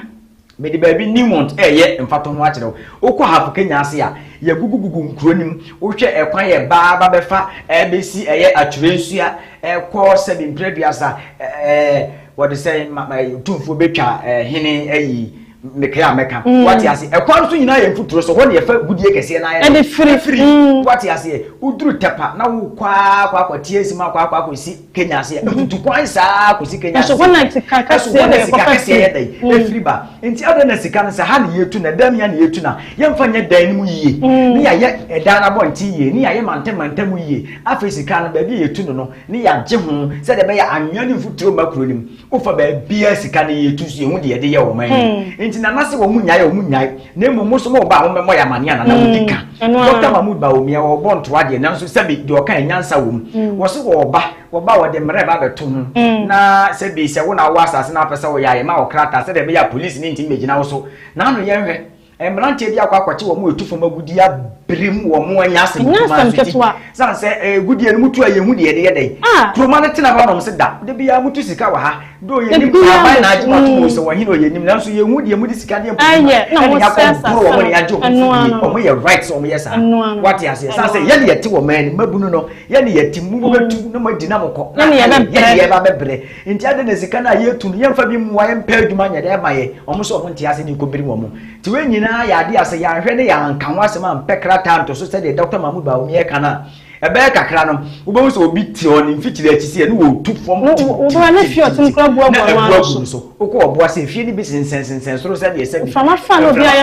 Mede baabi Newmont reyɛ mfatoho akyerɛ wo. Wokɔ Hafu Kenya ase a, yɛagugugugu nkuro no mu. Wohwɛ ɛkwan a ɛba ba bɛfa bɛsi ɛyɛ Atwerɛ Nsua kɔ sɛbe mprɛduasa, ɛɛ, wɔde sɛn ma, ma, Otumfoɔ bɛtwa hene ayi. mekɛa a mɛka mm. wate ase ɛkwan no so nyinaa yɛ mfuturo so hɔ ne yɛfa gudie kɛseɛ no ayɛ firi firi mm. wate aseɛ woduru tɛpa na wokɔ akɔ akɔ tie nsim akɔ akɔ akɔ si kenya aseɛ mm-hmm. mfutu kwan saa kɔ si kenya aseɛ ɛso hɔ na sika kɛseɛ na ɛkɔ kɛseɛ yɛ dɛn mm. ɛfiri ba nti adɛn na sika no sɛ ha na yɛtu na dɛm ya na yɛtu na yɛmfa nyɛ dan no mu yie ne yɛayɛ ɛdan no abɔnten yie ne yɛayɛ mantam mantam mu yie afei sika no baabi yɛtu no no ne yɛagye ho sɛdeɛ ɛbɛyɛ anwea ne mfuturo ma kuro no mu wofa baabiara sika no yɛtu so yɛhu deɛ yɛde yɛ wɔn ani hmm. nti nana sɛ wɔn nyae wɔn nyae na mmom mo nso mo ba a wɔmmɛmɔ yɛ amane a nana wɔn di hmm. ka dɔkta mahmood ba wɔn mia wɔbɔ ntoa deɛ nanso sɛbi deɛ ɔka yɛ nyansa wɔm hmm. wɔsi wɔba wɔba wɔde mmerɛ ba bɛto ho na sɛbi sɛ wɔn na wɔ asase na apɛ sɛ wɔyɛ ayɛ ma wɔkrata sɛdeɛ ɛbɛyɛ a polisi ne ntumi bɛgyina wɔ so na ano yɛn hwɛ Mmeranteɛ bi akɔ akɔkye wɔn a ɛtu fam agudeɛ abere mu wɔ wɔn anya asɛm Ɛnyɛ asɛm ketewa. Sane sɛ agudeɛ no mutu a yɛhu deɛ ɛde yɛ dɛn. Ah. Kuroma no tena hɔ nom se da. Da biara mutu sika wɔ ha. Doo yɛnim Da biara aban na agye mo ato mu mutu. sɛ wɔn hene ɔ yɛnim nanso yɛnhu deɛ mode sika deɛ mpo Ɛyɛ, na ɛne wɔsɛe Yakob boro asase wɔn ne no. agye wɔn Ɛno firi ara no. Wɔn yɛ right sɛ wɔn yɛ saa. Ɛno ara no. Wate aseɛ. Sane Ɛno sɛ ara yɛne yɛte wɔn ani. Mmabunu no, yɛne yɛte. Mobɛtu na moadi na mokɔ. Yɛne yɛbɛbrɛ. Yɛne yɛba bɛbrɛ. Nti adɛn na sika no a yɛtu no yɛmfa bi mmoa yɛmpɛ adwuma nyɛ dɛ ɛma yɛ wɔn nso wɔn nte ase ne nkɔmmiri wɔn nti wei nyinaa yɛ adeɛ a sɛ yɛanhwɛ ne yɛanka ho asɛm ampɛ krataa anto so sɛdeɛ Dɔkta Mahmoud Bawumia reka no a ɛbɛyɛ kakra no wobɛhu sɛ obi te hɔ ne mfitiri akyi sɛ yɛne wɔtu fam tintintintintin na abu agu no so wokɔ ɔboa sɛ efie no bi sensɛnsensɛn soro sɛdeɛ sɛ bi mframa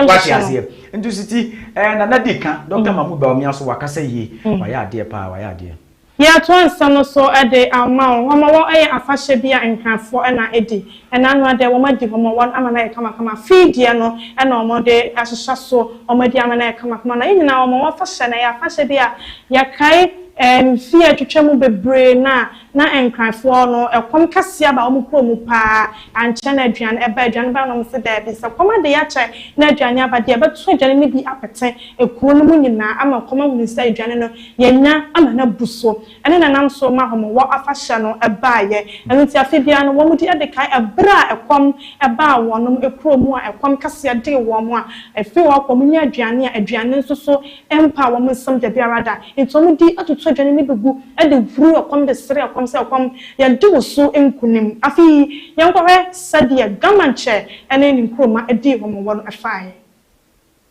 wate aseɛ nti siti eh, nana di ka Dɔkta Mahmoud Bawumia so wakasa yie wayɛ adeɛ paa wayɛ adeɛ Yɛatoa nsa no so de ama wo. Wɔma wɔ yɛ afahyɛ bi a nhwɛfoɔ na adi. Ɛna ano adɛ wɔn adi hɔ ma wɔn ama no ayɛ kamakama. Fii deɛ no na wɔn de ahyehyɛ so wɔn adi ama no ayɛ kamakama. Na yɛ nyinaa wɔma wɔ afahyɛ na ɛyɛ afahyɛ bi a yɛkae mfie a atwitwa mu bebree no a na nkranfoɔ no ɛkɔm kɛseɛ aba wɔn kuro mu paa ankyɛ na aduane ɛba. Aduane bae na wɔn se daabi sɛ kɔm ade akyɛ na aduane aba deɛ ɛbɛto aduane no bi apete kuro no mu nyinaa ama kɔm ahunu sɛ aduane no Yɛanya ama no abu so. Ɛne na ɛnam so ma Homewɔ Afahyɛ no baeɛ. Ɛno nti afe biara no wɔdi de kae ɛberɛ a ɛkɔm baa wɔn kuro mu a ɛkɔm kɛseɛ dee wɔn a ɛfiri hɔ kɔ wɔn nya aduane a aduane nso so mpaa wɔn nsam da biara da. Nti wɔdi atoto aduane no bi gu de huri ɛkɔm de sere ɛkɔm sɛ ɛkɔm yɛde wo so nkunim. Afe yi yɛnkɔhwɛ sɛdeɛ Gamankyɛ ne ne nkuroma dii Homewɔ no faeɛ.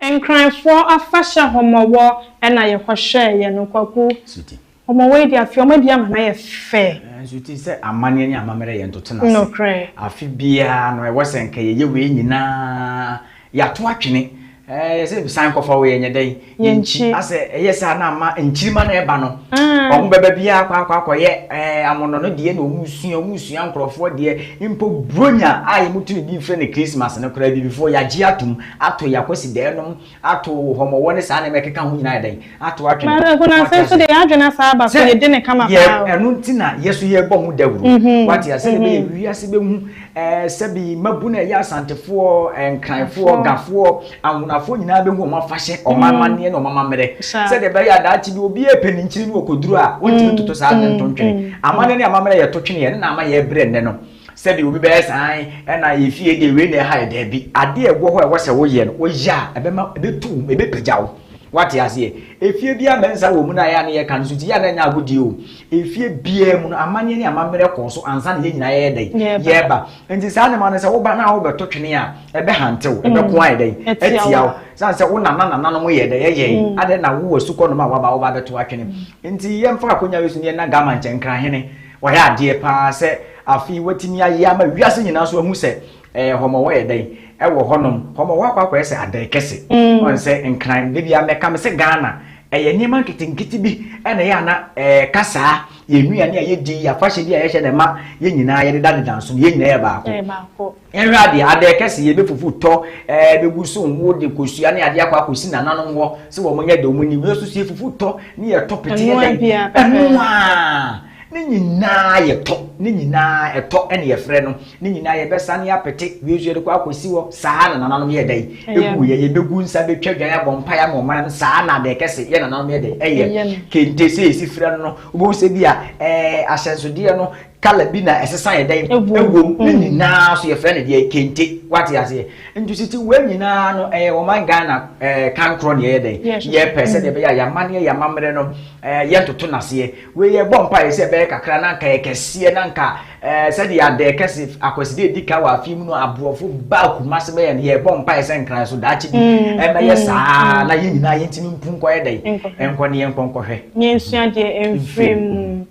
Nkranfoɔ afahyɛ homɔwɔ na yɛ kɔ hwɛɛ yɛ no kwaku homɔwɔ yi deɛ afi ɔmo adi ama no ayɛ fɛ. Nanso te sɛ amanneɛ ne amammerɛ yɛ ntoto no ase. Nokorɛ. Afe biara no ɛwɔ sɛ nka yɛyɛ wei nyinaa yɛato atwene ɛɛ yɛ sɛ san kɔ fa wei ɛnyɛ dɛn yɛnkyi asɛ ɛyɛ saa na ama nkyirima no ɛba no ɔmo bɛba biara akɔ akɔ akɔ yɛ ɛɛ amono no deɛ na ɔmo sua ɔmo sua nkorɔfoɔ deɛ mpo bronya a yɛn mo tumi bi frɛ no Christmas no koraa abibifoɔ yɛagye atom ato yɛ akwasidaa nom, ato hɔmɔwɔ ne saa nneɛma a ɛkeka ho nyinaa ayɛ dɛn? Ato atwene. But nkunase nso deɛ yɛadwene asan aba so, yɛdi no kama paa o. Sɛ yɛ, ɛno nti na yɛ nso yɛrebɔ ho dawuro. Wate aseɛ? Sɛdeɛ ɛbɛyɛ wiase bɛhu eh, sɛbi mmabunu a ɛyɛ Asantefoɔ, Nkranfoɔ, Gafoɔ, Anwonafoɔ nyinaa bɛhu wɔn afahyɛ, wɔn amanneɛ ne wɔn amammerɛ. Sɛdeɛ ɛbɛyɛ a daakye bi obiara repɛ ne nkyini ne ɔkɔduru a, wɔntumi ntoto saa ade no nto ntwene. Amanneɛ ne amammerɛ a yɛto twene yɛ no na ama yɛrebrɛ nnɛ no. sɛdeɛ obi bɛyɛ saa ɛna yɛ fie deɛ wei na ɛha yɛ daabi adeɛ a ɛwɔ hɔ a ɛwɔ sɛ woyɛ no woyɛ a ɛbɛma ɛbɛtu wo ɛbɛpagya wo wate aseɛ efie bi ama nsa wɔ mu no a yɛ a ne yɛ ka no so nti yɛ a na ɛnyɛ agodie o efie biara mu no amanneɛ ne amammerɛ kɔɔ so ansa na yɛ nyinaa yɛyɛ dɛn yɛba nti saa nneɛma no sɛ woba na wobɛto twene a ɛbɛhantew mm. ɛbɛko ayɛ dɛn atia wo sane sɛ wo nana nananom yɛ dɛ yɛyɛe mm. adɛn na wowɔ sukɔ nom a waba woba bɛto atwene mm. nti yɛmfa akonya wei so ne yɛna gama nkyɛnkra hene Wayɛ adeɛ paa sɛ afei watumi ayɛ ama wiase nyinaa nso ahu sɛ eh, hɔmɔwɔ yɛ dɛn ɛwɔ hɔnom. Hɔmɔwɔ akɔ akɔyɛ sɛ adɛn kɛse. Ɔn sɛ nkran da biara mɛka me sɛ Ghana ɛyɛ nneɛma nketenkete bi ɛna ɛyɛ ana ɛka saa. Yɛn nnuane a yɛdi, yɛn afahyɛ bi a yɛhyɛ na ɛma yɛn nyinaa yɛdedadeda nso no yɛn nyinaa yɛ baako. Nhwɛ adeɛ, adɛɛ kɛse yɛ bɛfufu tɔ ɛɛ bɛgu so nwo de kosua ne adeɛ akɔ akɔsi nananom hɔ sɛ wɔn nyɛ dɛ wɔn nim yɛ so so yɛ fufu tɔ ne yɛ tɔ pete yɛ dɛn ɛno aa ne nyinaa yɛ tɔ ne nyinaa ɛtɔ ɛne yɛ frɛ no ne nyinaa yɛ bɛ sane apete wie so yɛ de kɔ akɔsi hɔ saa na nananom yɛ dɛn ɛgu yɛ yɛ bɛgu nsa bɛtwa dwan abɔ mpa ya ma ɔman no saa na adɛɛ kɛse yɛ nananom yɛ dɛn ɛyɛ kente sɛ yɛ si frɛ no no wobɛhu sɛ bi a ɛɛ ahyɛnsodeɛ no kala bi na ɛsesa yɛ dɛn ɛwom ne mm. nyinaa so yɛfrɛ no deɛ kente wate aseɛ nti siti wei nyinaa no ɛyɛ wɔman ghana ɛɛ kan korɔ deɛ yɛ dɛn yɛpɛ sɛ deɛ bɛyɛ a yɛamanneɛ yɛamammerɛ no ɛɛ yɛntoto n'aseɛ wei yɛ bɔ mpa yɛ sɛ ɛbɛyɛ kakra na nka yɛ kɛseɛ na nka ɛɛ sɛdeɛ adɛ kɛse akwaside edi ka wɔ afi mu no aborɔfo ba akuma se bɛyɛ no yɛ bɔ mpa yɛ sɛ nkran so daakye bi mm, ɛbɛyɛ mm, saa na yɛn nyinaa yɛntumi mpu nkɔyɛ dɛn nkɔ ne yɛn nkɔ nkɔhwɛ. yɛn nsuadeɛ mfiri mu.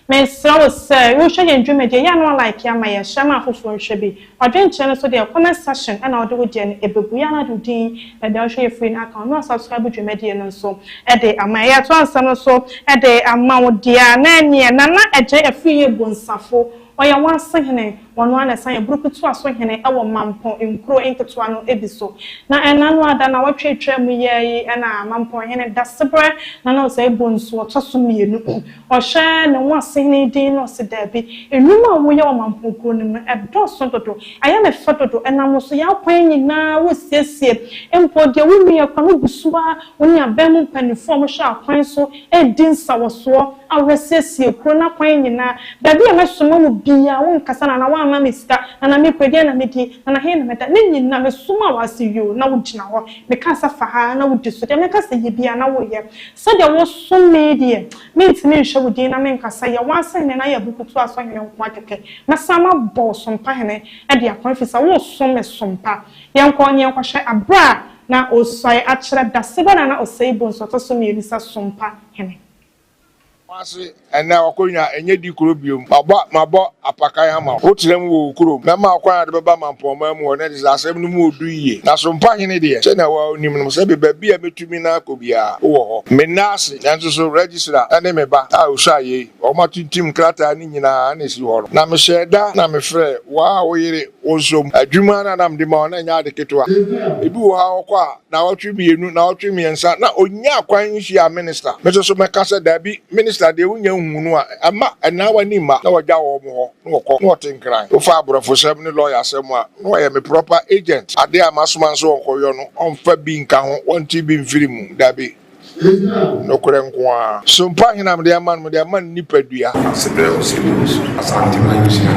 Mesrɛ wo sɛ wohwɛ yɛn dwumadie yɛ a na walike ama yɛn, hyɛ ma afoforɔ nhwɛ bi. Ɔdwenkyerɛ no so deɛ comment section na wode wo deɛ no ɛbɛgu, yɛ a na wode wo din na deɛ wohwɛ yɛ firi no aka ho na wasubscribe dwumadie no nso de ama yɛn. Yɛatoa nsɛm no so de ama wo deɛ a na ɛneɛ Nana Adjei afiri Yɛbonsafo. Ɔyɛ wɔn asehene. Ɔno ara na ɛsan yɛ burukutu asohene wɔ Mampɔn nkuro nketewa no bi so. Na ɛnna no ara da a nnawɔtwe retwa mu yi ara yi na Mampɔnhene Dasebrɛ Nana Osei Bonsu ɔtɔ so mmienu. Ɔhyɛ ne ho asehene yi din na ɔse daabi, nnwuma a woyɛ wɔ Mampɔn kuro no mu ɛdɔɔso dodo, ɛyɛ me fɛ dodo, ɛnam wo so yɛn akwan nyinaa wosiesie, mpo deɛ wonnuiɛ koraa no gu so ara, wo ne aban mu mpanimfoɔ a wɔhwɛ akwan so redi nsawɔsoɔ. a wɔasiesie kurow no akwan nyinaa, baabi a mɛsoma wo biara, wonkasa na na woamma me sika, na na mekɔ, ɛdeɛn na medi, na na he na mɛda, ne nyinaa, mesomaa wo ase yoo, na wogyina hɔ, mekaa sɛ fa ha, na wodi so, deɛ meka sɛ yɛ biara, na woyɛ. Sɛdeɛ wosom me yi deɛ, mentumi nhwɛ wo din na menka sɛ, Yɛ w'asɛnnɛ na yɛ abufutuasɔhene nko ara kɛkɛ. Mɛsan mabɔ wo so mpahene de akɔ, ɛfiri sɛ woresom me so mpa. Yɛnkɔ na yɛnkɔhwɛ aberɛ a na ɔresuae akyerɛ dasegya no a na ɔsɛe boɔ nso, ɔtɔ so mmiɛnsa so mpa hene. Ase ɛnnɛ w'akonya ɛnyɛ di kuro biom mabɔ mabɔ apakan ama wo wotena mu wɔ wo kurom mɛma wo kwan a wode bɛba mampɔnman mu hɔ na ɛte sɛ asɛm no mu ɔdu yie na so mpa hene deɛ sɛnea wo ara wonim no sɛ me baabi a mɛtumi na akɔ biara wowɔ hɔ menna ase nanso so Regisra ɛne me ba a ɔsua yei wɔn atintim nkrataa no nyinaa na ɛsi hɔ no na mehyɛɛ da na mefrɛɛ wo a wo yere Wo nso, adwuma no a na mede ma wo no nyɛ ade ketewa. Ebi wɔ hɔ a, ɔkɔ a, nnawɔtwe mmienu, nnawɔtwe mmiɛnsa, na ɔnyaa kwan nhyiaa minista. Me nso so mɛka sɛ, Dabi, minista deɛ wonnya nhuu no a, ɛmma ɛnna w'ani mma. Na wɔagya wɔn hɔ, na wɔkɔ, na wɔte nkran. Wofa aborɔfosɛm ne lɔyasɛm a, na wɔyɛ me proper agent. Adeɛ a masoma nso wɔnkɔyɔ no, wɔmfa bi nka ho, wɔnte bi mfiri mu. Dabi. nokorɛ nko ara. So mpa hena mede ama no? Mede ama no nipadua. Ase brɛ wo sɛ wobɛdi so. Asante manhyia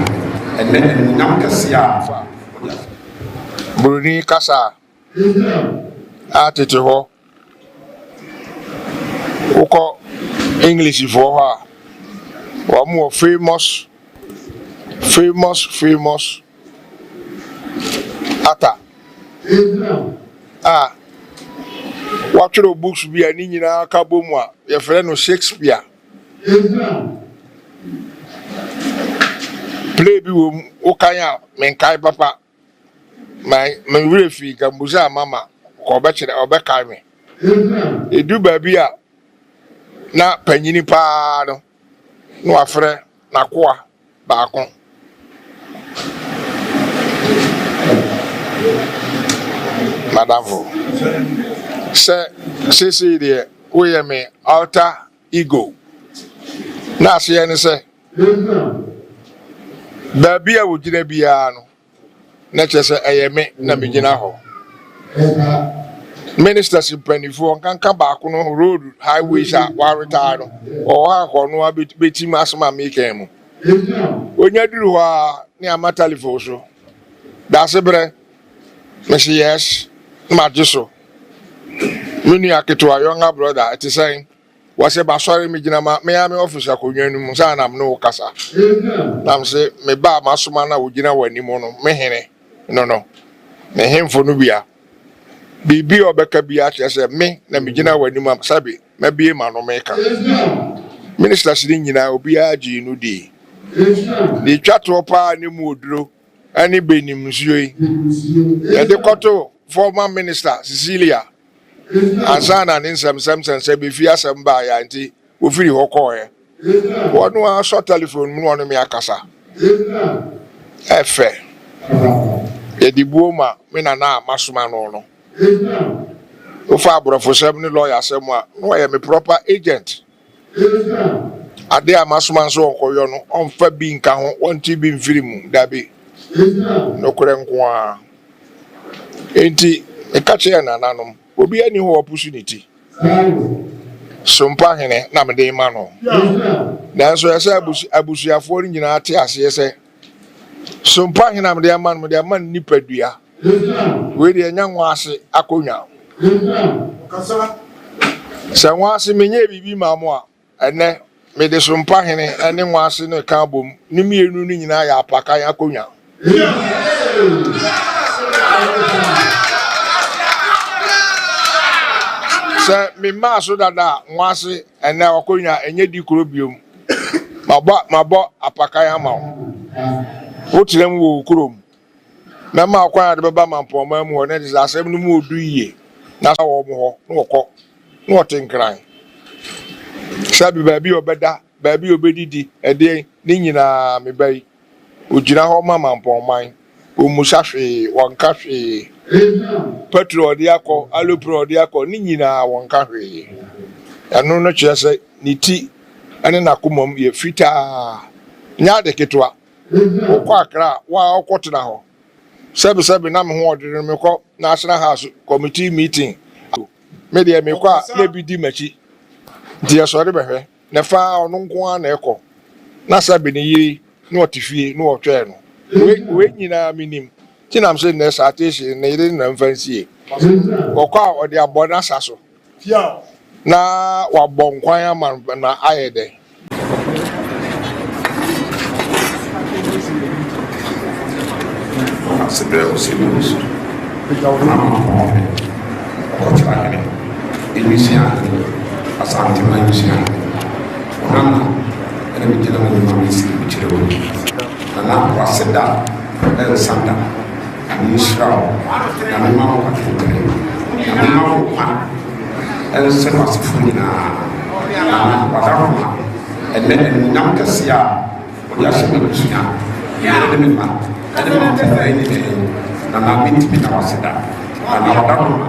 ɛnnɛ animuonyam kɛseɛ a wɔde ato wo so. Buroni kasa a tete hɔ wokɔ Englishfoɔ hɔ a wɔn wɔ famous famous famous Ata a ɔatwerɛ books bi a ne nyina aka bɔ mu a yɛfrɛ no Shakespeare. Play bi wɔ mu, wokan a menkae papa, me werɛ fii nka mbusaa mama ka ɔbɛkyerɛ ɔbɛkae me. Edu baabi a na panyini paa no na ɔafrɛ n'akoa. baako. M'adamfo, sɛ seesei deɛ woyɛ me alter ego. N'aseɛ ne sɛ, baabi a wogyina biara no. na kyerɛ sɛ ɛyɛ me na megyina hɔ. Ministers mpanimfoɔ nkanka baako no road highways a wɔaretire no ɔwɔ ha kɔ no a bɛtim asɛm a meka mu. Ɔnya duru hɔ a ne ama telefon so daase berɛ mese yes na magye so. Me nua ketewa younger brother ɛte sɛn? Wɔse masɔre megyina ma me ara me office akonnwa no mu saa na me ne wo kasa na mese me ba a masoma na ogyina w'anim no me hene no no ne hemfo no bia biribi a ɔbɛka bia kyerɛ sɛ me na megyina w'anim a sɛbe mabie ma no meka ministers no nyinaa obiara gyee no dii deɛ twa toɔ paa ne mu oduro ɛne benim nsuo yi yɛde kɔto former minister Cecilia ansa na ne nsɛmnsɛm sɛnsɛn befii asɛm baeɛ a enti wɔfirii hɔ kɔeɛ. Wɔn ara sɔ telefon mu ne wɔn me akasa. Ɛfɛ. Yɛde buo ma me nana a masoma no no. Wofa aborɔfosɛm ne lɔyasɛm a, na ɔyɛ me proper agent. Ade a masoma no sɛ wɔnkɔyɔ no, wɔmfa bi nka ho, wɔnte bi mfiri mu, dabi, nokorɛ nko ara. Enti meka kyerɛɛ nananom, Obiara nni hɔ a wapusu ne ti? So mpahene na mede rema no? Nanso ɛsɛ sɛ abusuafoɔ no nyinaa te aseɛ sɛ, so mpahene a mede ama no, mede ama no nipadua. Wei deɛ ɛnyɛ nwa ase akonnwa. Sɛ nwa ase menyɛɛ biribi mmaa mo a, ɛnnɛ mede so mpahene ne nwa ase no reka abom. Ne mmienu no nyinaa yɛ apakan akonnwa. Sɛ memmaa so dada a, nwa ase ɛnnɛ akonnwa ɛnyɛ di koro biom. Mabɔ apakan ama wo. Wotena mu wɔ wo kurom Mɛma ɔkwan a wɔde bɛba ma mpɔmman mu hɔ, na ɛte sɛ asɛm no mu odu yiye, na asa wɔ wɔn hɔ, na wɔkɔ, na wɔte nkran. Sɛbe baabi a ɔbɛda, baabi a obedidi, ɛdeɛn, ne nyinaa, me ba yi, ogyina hɔ ma mampɔnman. Ommisa hwee, ɔnka hwee. Petro a ɔde akɔ, alupre a ɔde akɔ, ne nyinaa, wɔnka hwee. Ɛno no kyerɛ sɛ ne ti ne n'akomam yɛ fitaa. Ɛnyɛ ade ketewa, Wokɔ Accra a, wo ara wokɔtena hɔ. Sɛbesɛbe na me ho ɔdene no, mekɔ National House Committee meeting a, me deɛ mekɔ a na ebi di m'akyi. Nti yɛsɔre bɛhwɛ, na ɛfa ara ɔno nko ara na ɛkɔ. Na sɛbe ne yere na ɔte fie na ɔtwɛn no. Wei wei nyinaa menim. Nti na mese nnɛ saa Tayshia yi, ne yere na mfa nsie. Ɔkɔ a, ɔde abɔ n'asa so. Na wabɔ nkwan ama no na ayɛ dɛ. Asebrɛ ɔsi ne ho so. N'amama kɔn ho. Ɔkɔtra hene. Nwisiaa hene. Asanteman nwisiaa hene. Ɔham na. Ɛna megyina mu de ma me siri mekyerɛ w'ani. Nana Kwaseda ɛnsa da. Na menhyira wo, na mema wo atɛntrenee, na mema wo nkwa nhyɛ w'asefoɔ nyina ara ma, na w'adakoroma nnɛ animuonyam kɛseɛ a wode ahyɛ m'abusua ne me ne me mma ne m'atɛntrenee nyina mu, na na mentumi nna wo ase da, na na w'adakoroma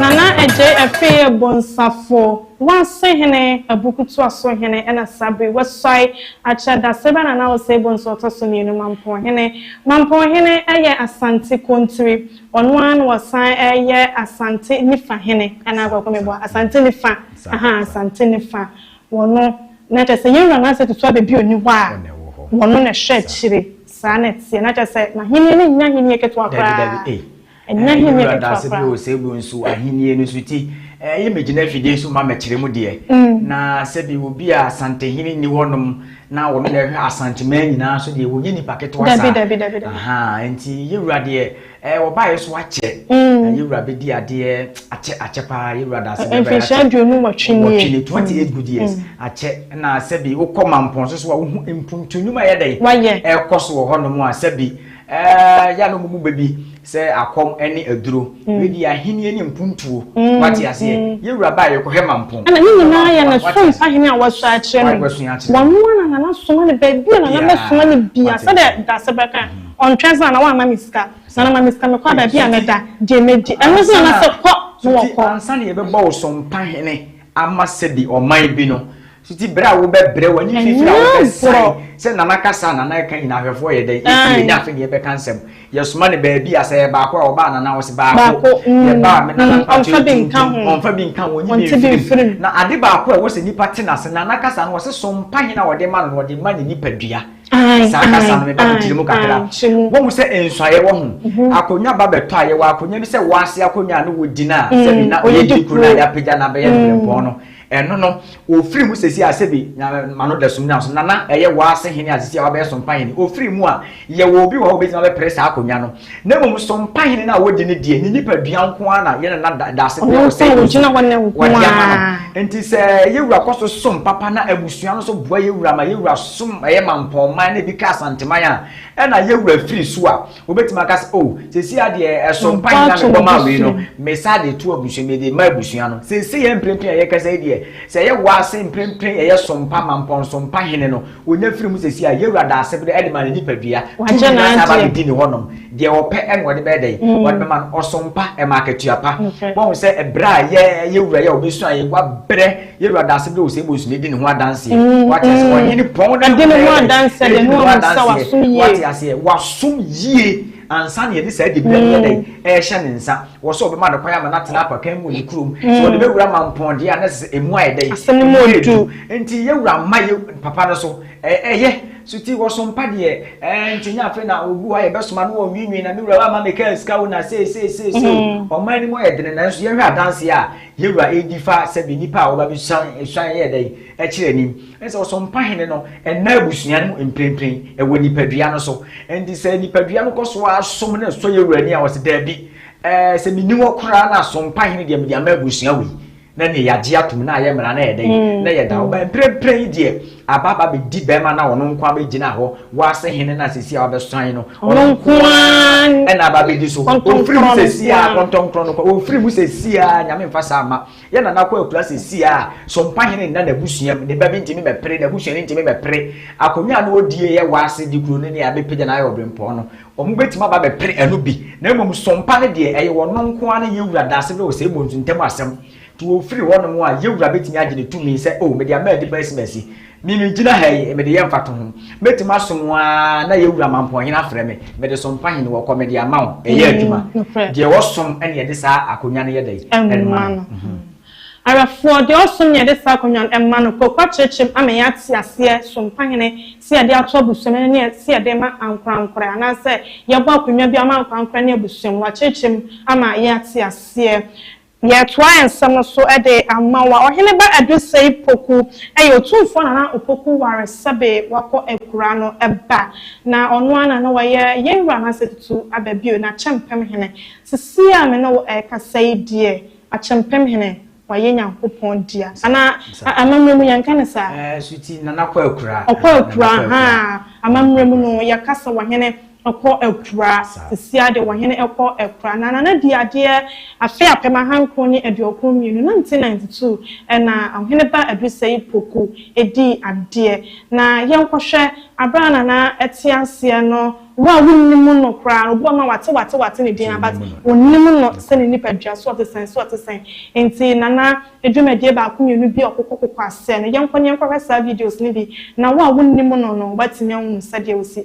Nana Adjei Afie Bonsafo, Wase Hene, Abukutuaso Hene ɛna saa bere yi wasuae akyerɛ Daseba Nana Osei Bonsu Ɔtɔso Mmienu Mampɔn Hene. Mampɔn Hene ɛyɛ Asante Kontiri. Ɔno ara na ɔsan yɛ Asante Nifa hene anaa Kwaku Amebuah, Asante Nifa, ahaa, Asante Nifa, wɔno na kyerɛ sɛ yɛn wura Nasa Tutu Abɛ bi ɔnni hɔ a, wɔno na ɛhwɛ akyire, saa na ɛteɛ, na kyerɛ sɛ n'ahennie no nnya ahennie ketewa koraa, ɛnnya ahennie ketewa koraa. Yɛn wura Nasa bi wɔ Seegu nso, ahennie no nso ti, ɛɛ, yɛ mɛgyina afidie so ma mɛkyerɛ mu deɛ, na sɛbi obi a Asantehene nni hɔnom, na wɔn na ɛhwɛ asanteman nyinaa so deɛ wɔnyɛ nipa ketewa saa dabi dabi dabi dabi nti yɛwura deɛ ɛɛ eh, wɔbaeɛ so akyɛ mm. na yɛwura bɛdi adeɛ akyɛ akyɛ paa yɛwura daase bɛbɛyɛ akyɛ mfinhyia aduonu wɔtwe nie wɔtwe nie twenty eight good years mm. akyɛ na sɛbi wokɔ mampɔn so so a wohu mpuntu nnwuma yɛ dɛ wayɛ ɛkɔ so wɔ hɔnom a sɛbi Eh, ya no mumu babi sɛ akɔm ne aduro. Mm. Wedi ahenni ne mpuntuo. Mm. Wate aseɛ. Mm. Yɛ wura baa yɛkɔhwɛ mampɔn. Ɛna ne nyinaa yɛ ne som sahene a wasu akyerɛ me. Wasu akyerɛ me. Wano ana na na soma ne baabi a na na mɛ soma ne bia. Sɛdeɛ dase bɛka. Ɔntwɛn sɛ na wama me sika. Na na ma me sika me kɔ baabi a mɛda. Deɛ mɛdi. Ɛno sɛ na sɛ kɔ na wɔkɔ. Ansa na yɛbɛbɔ wo som pahene ama sɛbi ɔman bi no. So ti bere a wobɛbrɛ w'ani fifiri a wobɛsan sɛ nana kasa a nana ɛka nyina ahwɛfoɔ yɛ dɛn ɛti yɛ nya afe ne yɛbɛka nsɛm yɛsoma ne baabi a sɛ yɛ baako a ɔbaa nana ɔse baako yɛ baa me nana mpakyɛ tuntum ɔmfa bi nka ho ɔnyi bi mfirim na ade baako a ɛwɔ sɛ nipa te nase nana kasa no wɔse so mpa hena a ɔde ma no na ɔde ma ne nipa dua saa kasa no meba me tiri mu kakra wɔhu sɛ nsuayɛ wɔ ho akonnwa ba bɛtɔ a yɛwɔ akonnwa bi sɛ wɔase akonnwa a ne wɔgyina a sɛ bi na ɔyɛ di kuro a yɛapagya na bɛyɛ no brɛmpɔn no Ɛno no, ɔfiri mu sɛsi a sɛbi ma no dasum nam so, nana ɛyɛ waa se hene a sɛsi a wabɛyɛ sompahene, ɔfiri mu a, yɛwɔ obi wɔ hɔ a ɔbɛtumi abɛpere saa akonnwa no. Na mmom sompahene no a wɔdi no deɛ, ne nipadua nko ara na yɛn nana da, Daase Bia Ɔsɛe Bosu, wɔde ama no. Nti sɛ yɛn wura kɔ so som papa na abusua no nso boa yɛn wura ma yɛn wura som ɛyɛ Mampɔnman na ebi ka Asanteman a, ɛna yɛn wura firi so a, Wobɛtumi aka sɛ, oh, sɛsi adeɛ ɛso mpa nyina me bɔ maa wei no, me sa de to abusua, me de ma abusua no. Sɛsi yɛ mprempren a yɛkasa yi deɛ, sɛ ɛyɛ wo ase mprempren ɛyɛ so mpa ma mpɔnso mpa hene no, ɔnya firi mu sɛsi a, Yawura da ase berɛ de ma ne nipadua, tumi no asan aba abɛdi ne hɔ nom, deɛ ɔpɛ na ɔde bɛyɛ dɛn? Ɔde bɛma no, ɔso mpa, ɛma akatua pa. Woahu sɛ ɛberɛ a yɛ Yawura yɛ a ɔbɛsuaeɛ, wabrɛ, Yɛwura da ase dɛ ɔsɛ ebosua edi ne ho adanseɛ. Wate aseɛ? Ɔhene pɔn na Ɔde ne ho adanseɛ de ne ho amusa wasom yie. Wate aseɛ? Wasom yie ansa na yɛde saa dibea no yɛ dɛn? Ɛrehyɛ ne nsa. Wɔ sɛ ɔbɛma no kwan ama no atena apakan mu wɔ ne kurom. Sɛ ɔde bɛwura mampɔn deɛ a na ɛsɛ sɛ emu ayɛ dɛn? Asɛm no mu yɛ duru. Nti yɛwura mma yɛ papa no so. Ɛ ɛyɛ. So nti wɔsom pa deɛ ɛɛ nti nyɛ afei na obi wɔ hɔ a yɛbɛsoma no wɔnwiinwii na me wura woamma mekaa sika o na sei sei sei sei o. Ɔman no mu ayɛ dene nanso yɛnhwɛ adanseɛ a Yɛn Wura redi fa sɛ bɛ nnipa a wɔba bɛsuan suan yɛ dɛn kyerɛ anim. Ɛne sɛ Ɔsɔmpahene no nna abusua no mu mprempren, ɛwɔ nipadua no so. Enti sɛ nipadua no kɔ so ara som na ɛsɔ yɛn Wura ani a, ɔse, Dabi, ɛɛ, sɛ menni hɔ koraa no a, Sɔmpahene deɛ mede ama abusua wei, na neɛ yɛagye atom, na ayɛ mmara, na ɛyɛ dɛn, na yɛda hɔ. Ba mprempren deɛ, Aba aba bɛdi bɛrima no a ɔno nko ara bɛgyina hɔ, wiase hene no a seesei a wabɛsɔn no, ɔno nko ara na aba bɛdi so. Ɔmfiri mu seesei ara, kɔntɔnkrɔn no kwa, ɔmfiri mu seesei ara, Nyame mfa saa mma. Yɛn Nana Akua akura seesei ara, Sompahene nna n'abusua mu, ne ba bi ntumi mmɛpere, n'abusuani ntumi mmɛpere akonnwa a na ɔdi yɛ wiase de kuro no ne abɛpagya no ayɛ ɔbrempɔn no, wɔbɛtumi aba abɛpere ɛno bi. Na mmom Sompa no deɛ, ɛyɛ ɔno nko ara ne yɛn wura Daasegre Osei Bonsu ntam asɛm. Tu o firi hɔnom a, yɛn Wura bɛtumi agye ne tumi sɛ, O, mede ama adi bɛn simasi? Me, megyina ha yi, mede yɛ mfatoho. Mɛtumi asom wo ara na yɛn Wura Mampɔnhene afrɛ me. Mede som pahene wɔ kɔ, mede ama wo. Ɛyɛ adwuma. Deɛ ɔsom na yɛde saa akonnwa no yɛ dɛn? Ma no. Awerɛfoɔ, deɛ ɔsom na yɛde saa akonnwa no ma no. Kwaku akyerɛkyerɛm ama yɛn ate aseɛ, som pahene, sɛ yɛde ato abusuam no ne sɛ yɛde rema ankorankorɛ, anaasɛ yɛbɔ akonnwa bi ama ankorankorɛ ne abusuam. Wakyerɛkyerɛ mu ama yɛn ate aseɛ. Yɛtoa yɛn nsɛm no so de ama wo a, Ɔheneba Adosei Poku yɛ Otumfoɔ Nana Opoku Waresɛbe Wakɔ Akura no ba, na ɔno ara na na wayɛ yɛn Wura Nasa Tutu Aba bio, na Akyɛmpem Hene. Sisi a me ne wo rekasa yi deɛ, Akyɛmpem Hene, wayɛ Nyankopɔn dea. Anaa, amammerɛ mu yɛnka no saa? Ɛɛ, so ti Nana kɔ akura? Ɔkɔ akura, ahaa, amammerɛ mu no, yɛka sɛ Ɔhene. kɔ akura sisi a deɛ wɔhene kɔ akura na nana di adeɛ afe apem ahankron ne aduokron mmienu nineteen ninety two ɛna ɔhene ba adusɛi poku di adeɛ na yɛnkɔhwɛ abere a nana te aseɛ no wo a wonnim no koraa no obi wɔ hɔ a wate wate wate ne din a but wonnim no sɛ ne nipa dua so ɔte sɛn so ɔte sɛn nti nana dwumadie baako mmienu bi a ɔkokɔ kokɔ aseɛ no yɛnkɔ ne yɛnkɔhwɛ saa videos no bi na wo a wonnim no no woatumi ahunu sɛdeɛ osi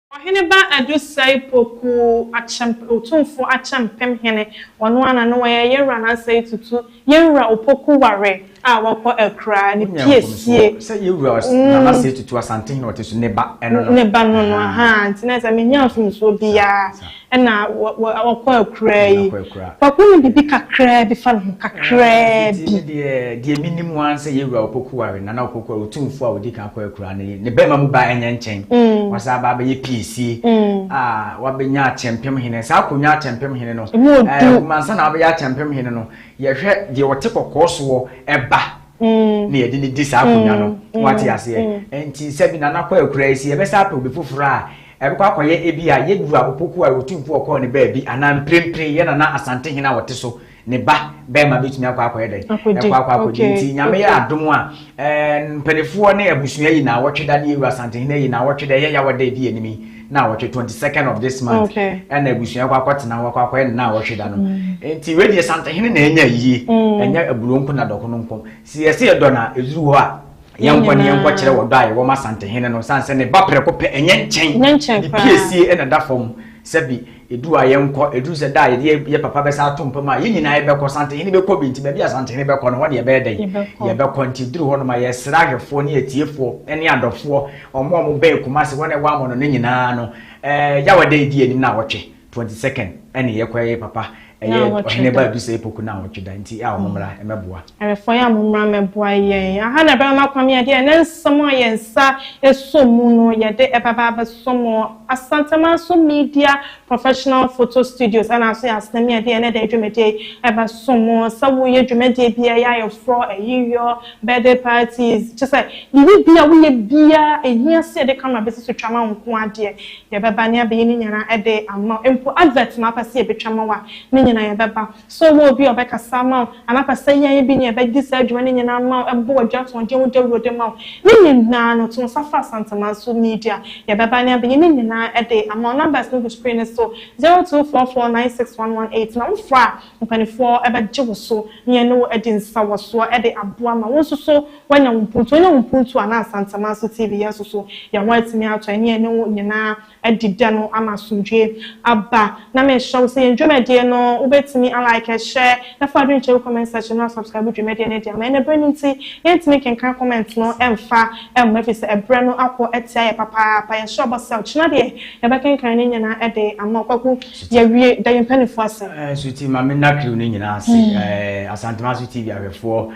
Ɔheneba Adosai Poku Akyemp Otumfo Akyempem Hene ɔno ara na na ɔyɛ Yɛwura Nansei Tutu Yɛwura Opoku Ware a wakɔ akuraa ne Wonyaa pie mfomsoɔ sie sɛ Yɛwura Ɔs Na Nasei Tutu Asantehene a ɔte so ne ba ɛno no ne ba no no ahaa nti na sɛ menyaa mfomsoɔ biara Saa saa. Ɛna ɔkɔ akuraa yi. Kwaku nim biribi kakraa bi fa ne ho, kakraa bi. Nti me deɛ, deɛ menim ara sɛ Yewura Opoku ware Nana Opoku a Otumfoɔ a ɔdi kan kɔɔ akuraa no yi. Ne barima mu ba ɛnyɛ nkyɛn. Wasan aba abɛyɛ piesie a wabɛnya Akyɛmpem Hene. Saa akonnwa Akyɛmpem Hene no, ɛnhoma ansa na wabɛyɛ Akyɛmpem Hene no, yɛhwɛ deɛ ɔte kɔkɔɔ soɔ ba na yɛde no di saa akonnwa no. Wate aseɛ? Nti sɛbi Nana kɔ akuraa yi, sɛ yɛbɛsan apɛ obi foforɔ a, Ɛbɛkɔ akɔyɛ ebia Yedwura Opoku a Otumfo ɔkɔɔ ne baabi anaa mprempren yɛ Nana Asantehene a ɔte so ne ba barima betumi akɔ akɔyɛ dɛn? Akɔdi. Ɛkɔ akɔ akɔdi. Okay. Nti Nyame yɛ Okay. adom a, ɛɛ, mpaninfoɔ ne abusua yi naawɔtwe da ne Yewura Asantehene ayi naawɔtwe da, ɛyɛ Yawa da a edi anim yi naawɔtwe, 22nd of this month, Okay. ɛna abusua kɔ akɔtena hɔ akɔ akɔyɛ ne naawɔtwe da no. Nti wei deɛ Santehene na anya ayie, ɛnyɛ Aburoo nko na Dɔkono nko. Sɛ yɛse yɛdɔ no a, ɛduru hɔ a, yɛnkɔ ne yɛnkɔ kyerɛ wɔ dɔ a yɛwɔ ma Asantehene no sane sɛ ne ba prɛko pɛ ɛnyɛ nkyɛn ne piesie na da fam sɛbi edu a yɛnkɔ edu sɛ da a yɛde yɛ papa bɛsa ato mpa mu a yɛn nyinaa yɛbɛkɔ Asantehene bɛkɔ bi nti baabi Asantehene bɛkɔ no hɔ ne yɛbɛyɛ dɛn yɛbɛkɔ nti duru hɔ nom a yɛsrɛ ahwɛfoɔ ne atiefoɔ ne adɔfoɔ ɔmo a ɔmo bɛn Kumase hɔ na ɛwɔ amono no nyinaa no ɛɛ yawada edi anim na awɔtwe Twenty second ɛne yɛ kɔ yɛ papa ɛyɛ ɔhene ba edu sɛ epoku na awɔtwe da nti a wɔn mmra ɛmɛ boa. Ɛrefɔ yɛ a mo mmra mɛ boa yɛn aha na ɛbɛma makɔ mi adeɛ ɛnɛ nsɛm a yɛn nsa esɔ mu no yɛde ɛba ba abɛ sɔ mo asantemanso media professional photo studios ɛna aso yɛ asena mi adeɛ ɛnɛ dɛ dwumadie yi ɛbɛ sɔ mo sɛ wo yɛ dwumadie bia yɛ ayɛ forɔ ayiyɔ birthday parties kyɛ sɛ biribi bia wo yɛ bia ehia sɛ yɛde camera bɛ si so twa ma wo nko adeɛ Deɛ ɛbɛba ne abɛyɛ no nyinaa ɛde ama wo. Mpo advert na wopɛ sɛ yɛbɛtwa ama wo a, ne nyinaa yɛbɛba. Sɛ wowɔ obi a ɔbɛkasa ama wo, anaa wopɛ sɛ yɛn bi ne yɛn bɛdi saa dwuma no nyinaa ama wo, ɛbɔ w'adwuma ato wo den, wo dawuro de ma wo, ne nyinaa no, to nsa frɛ Asantemanso Media. Deɛ ɛbɛba ne abɛyɛ no nyinaa ɛde ama wo. Numbers no gu screen no so, zero two four four nine six one one eight. Na wofrɛ a, Mpanimfoɔ bɛgye wo so ne yɛne wo adi nsawɔsoɔ de aboa ma wo nso so woanya wo mpuntuo. Wonya wo mpuntuo a, na Nsanteman so TV yɛn nso so yɛn ho atumi atɔ yɛn ne yɛne wo nyinaa adi dɛ no ama asomdwoeɛ aba. Na mehyɛ wo sɛ yɛn dwumadie no wobɛtumi a like, share, na fa w'adwene kyerɛ wo comment section no a subscribe dwumadie no de ama. Ɛnna berɛ no nti yɛntumi nkenkan comment no mfa mma ɛfiri sɛ ɛberɛ no akɔ atia yɛn papaapa. Yɛhyɛ wo bɔ sɛ ɔkyena deɛ yɛbɛkenkan ne nyinaa de ama wo. Kwaku. Yɛawie, da yɛn mpanyinfoɔ ase. Suti ma me nna crew no nyinaa ase. Mm. Asantuma so TV ahwɛfoɔ,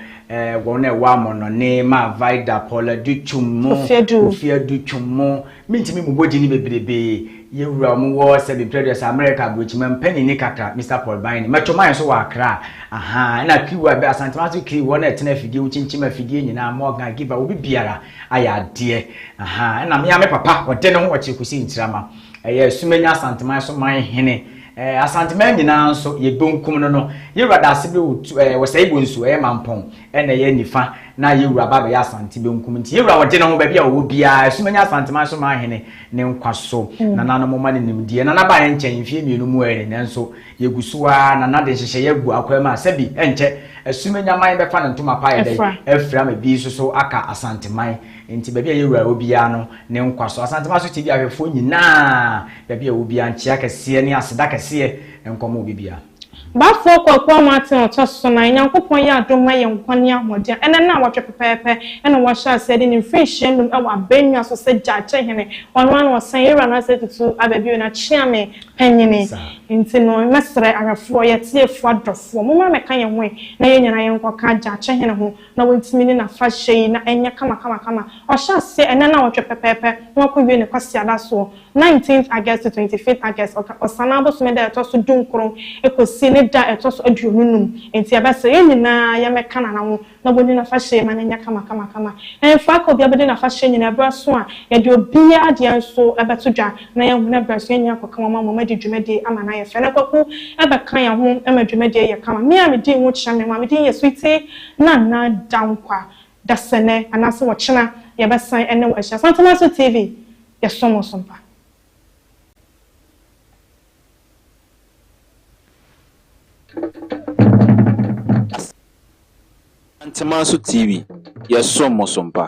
wɔn a ɛwɔ amɔnɔne, ma Vida, Paula du twom mo, Ofia du twom mo, mentumi mu bɔgye ne bebrebe, yɛwura wɔn wɔ sɛbi mpredɔs America aburokyima mpanyin ne kakra, Mr Paul Bine, mɛtɔ mayɛ nso wɔ Accra, aha, ɛna crew a ɛbɛ Asantuma so crew, wɔn a ɛtena afidie, wokyinkyim afidie nyinaa, Morgan, Giva, obi biara ayɛ adeɛ, aha, ɛna mea me papa, ɔde ne ho ɔkyerɛ kɔsi nkyirama. Ɛyɛ Asumanya Asanteman so man hene. Ɛɛ Asanteman nyinaa nso yɛ bonkum no no. Yewura da ase be wotu ɛɛ wɔsɛ Igbo nsu ɛyɛ Mampɔn ɛna ɛyɛ nifa na Yewura ba bɛyɛ Asante benkum nti Yewura ɔgye ne ho baabi a ɔwɔ biara Asumanya Asanteman so man hene ne nkwa so Nana no moma ne nimdeɛ Nana baeɛ nkyɛn mfie mmienu mu ɛɛ nanso yɛgu so ara Nana de nhyehyɛeɛ agu akwan mu a sɛbi ɛnkyɛ Asumanya man bɛfa ne ntoma pa ɛdɛn afira ma ebi nso so aka Asanteman Enti baabi a yɛwura wɔ biara no, ne nkwa so. Asante Maso TV ahwɛfoɔ nyinaa, baabi a ɛwɔ biara, nkyea kɛseɛ ne aseda kɛseɛ nkɔ mo obibiara. Bafo Kwaku Amoateng ɔtɔ so nan. Nyankopɔn yɛ adom ma yɛn nkwa ne ahoɔden. Ɛnɛ naawɔtwe pɛpɛɛpɛ na wahyɛ aseɛ de ne mfirinhyia num wɔ abannwa so sɛ Gyakye Hene. Ɔno ara na ɔsan yɛ Wura Nasser Tutu aba bio, n'akyeame panyini. Nti no mɛsrɛ ahwɛfoɔ, yɛatiefoɔ, adɔfoɔ, mommra mmɛka yɛn ho ɛ na yɛn nyinaa yɛnkɔka Gyakye Hene ho. na wantumi ne n'afahyɛ yi na ɛnyɛ kamakamakama. Ɔhyɛ aseɛ ɛnnɛ nnawɔtwe pɛpɛɛpɛ na wakɔwie no Kwasiada soɔ, Nineteenth August to Twenty Fifth August, ɔka Ɔsane abosome da a ɛtɔ so dunkron kɔsi ne da a ɛtɔ so aduonu nnum. Enti yɛbɛsrɛ yɛn nyinaa yɛmmɛka Nana ho na wɔnni n'afahyɛ yi ma no nyɛ kamakamakama. Ɛmfa aka obiara bɛdi n'afahyɛ nyinaa berɛ aso a, yɛde obiara deɛ nso bɛto dwa na yɛahunu berɛ aso yɛn nyinaa akɔka wɔn ama wɔadi dwumadie ama no ayɛ fɛ. Na Kwaku bɛka yɛn ho ma dwumadie ayɛ kama. Me a medii ho kyerɛ me mu a medin yɛ Sweetie Nna nna da nkwa, dasɛnɛ anaasɛ ɔkyena yɛbɛsan ɛne wo ahyia. Santana so TV yɛ som wo som pa. Santana so TV yɛ som wo som pa.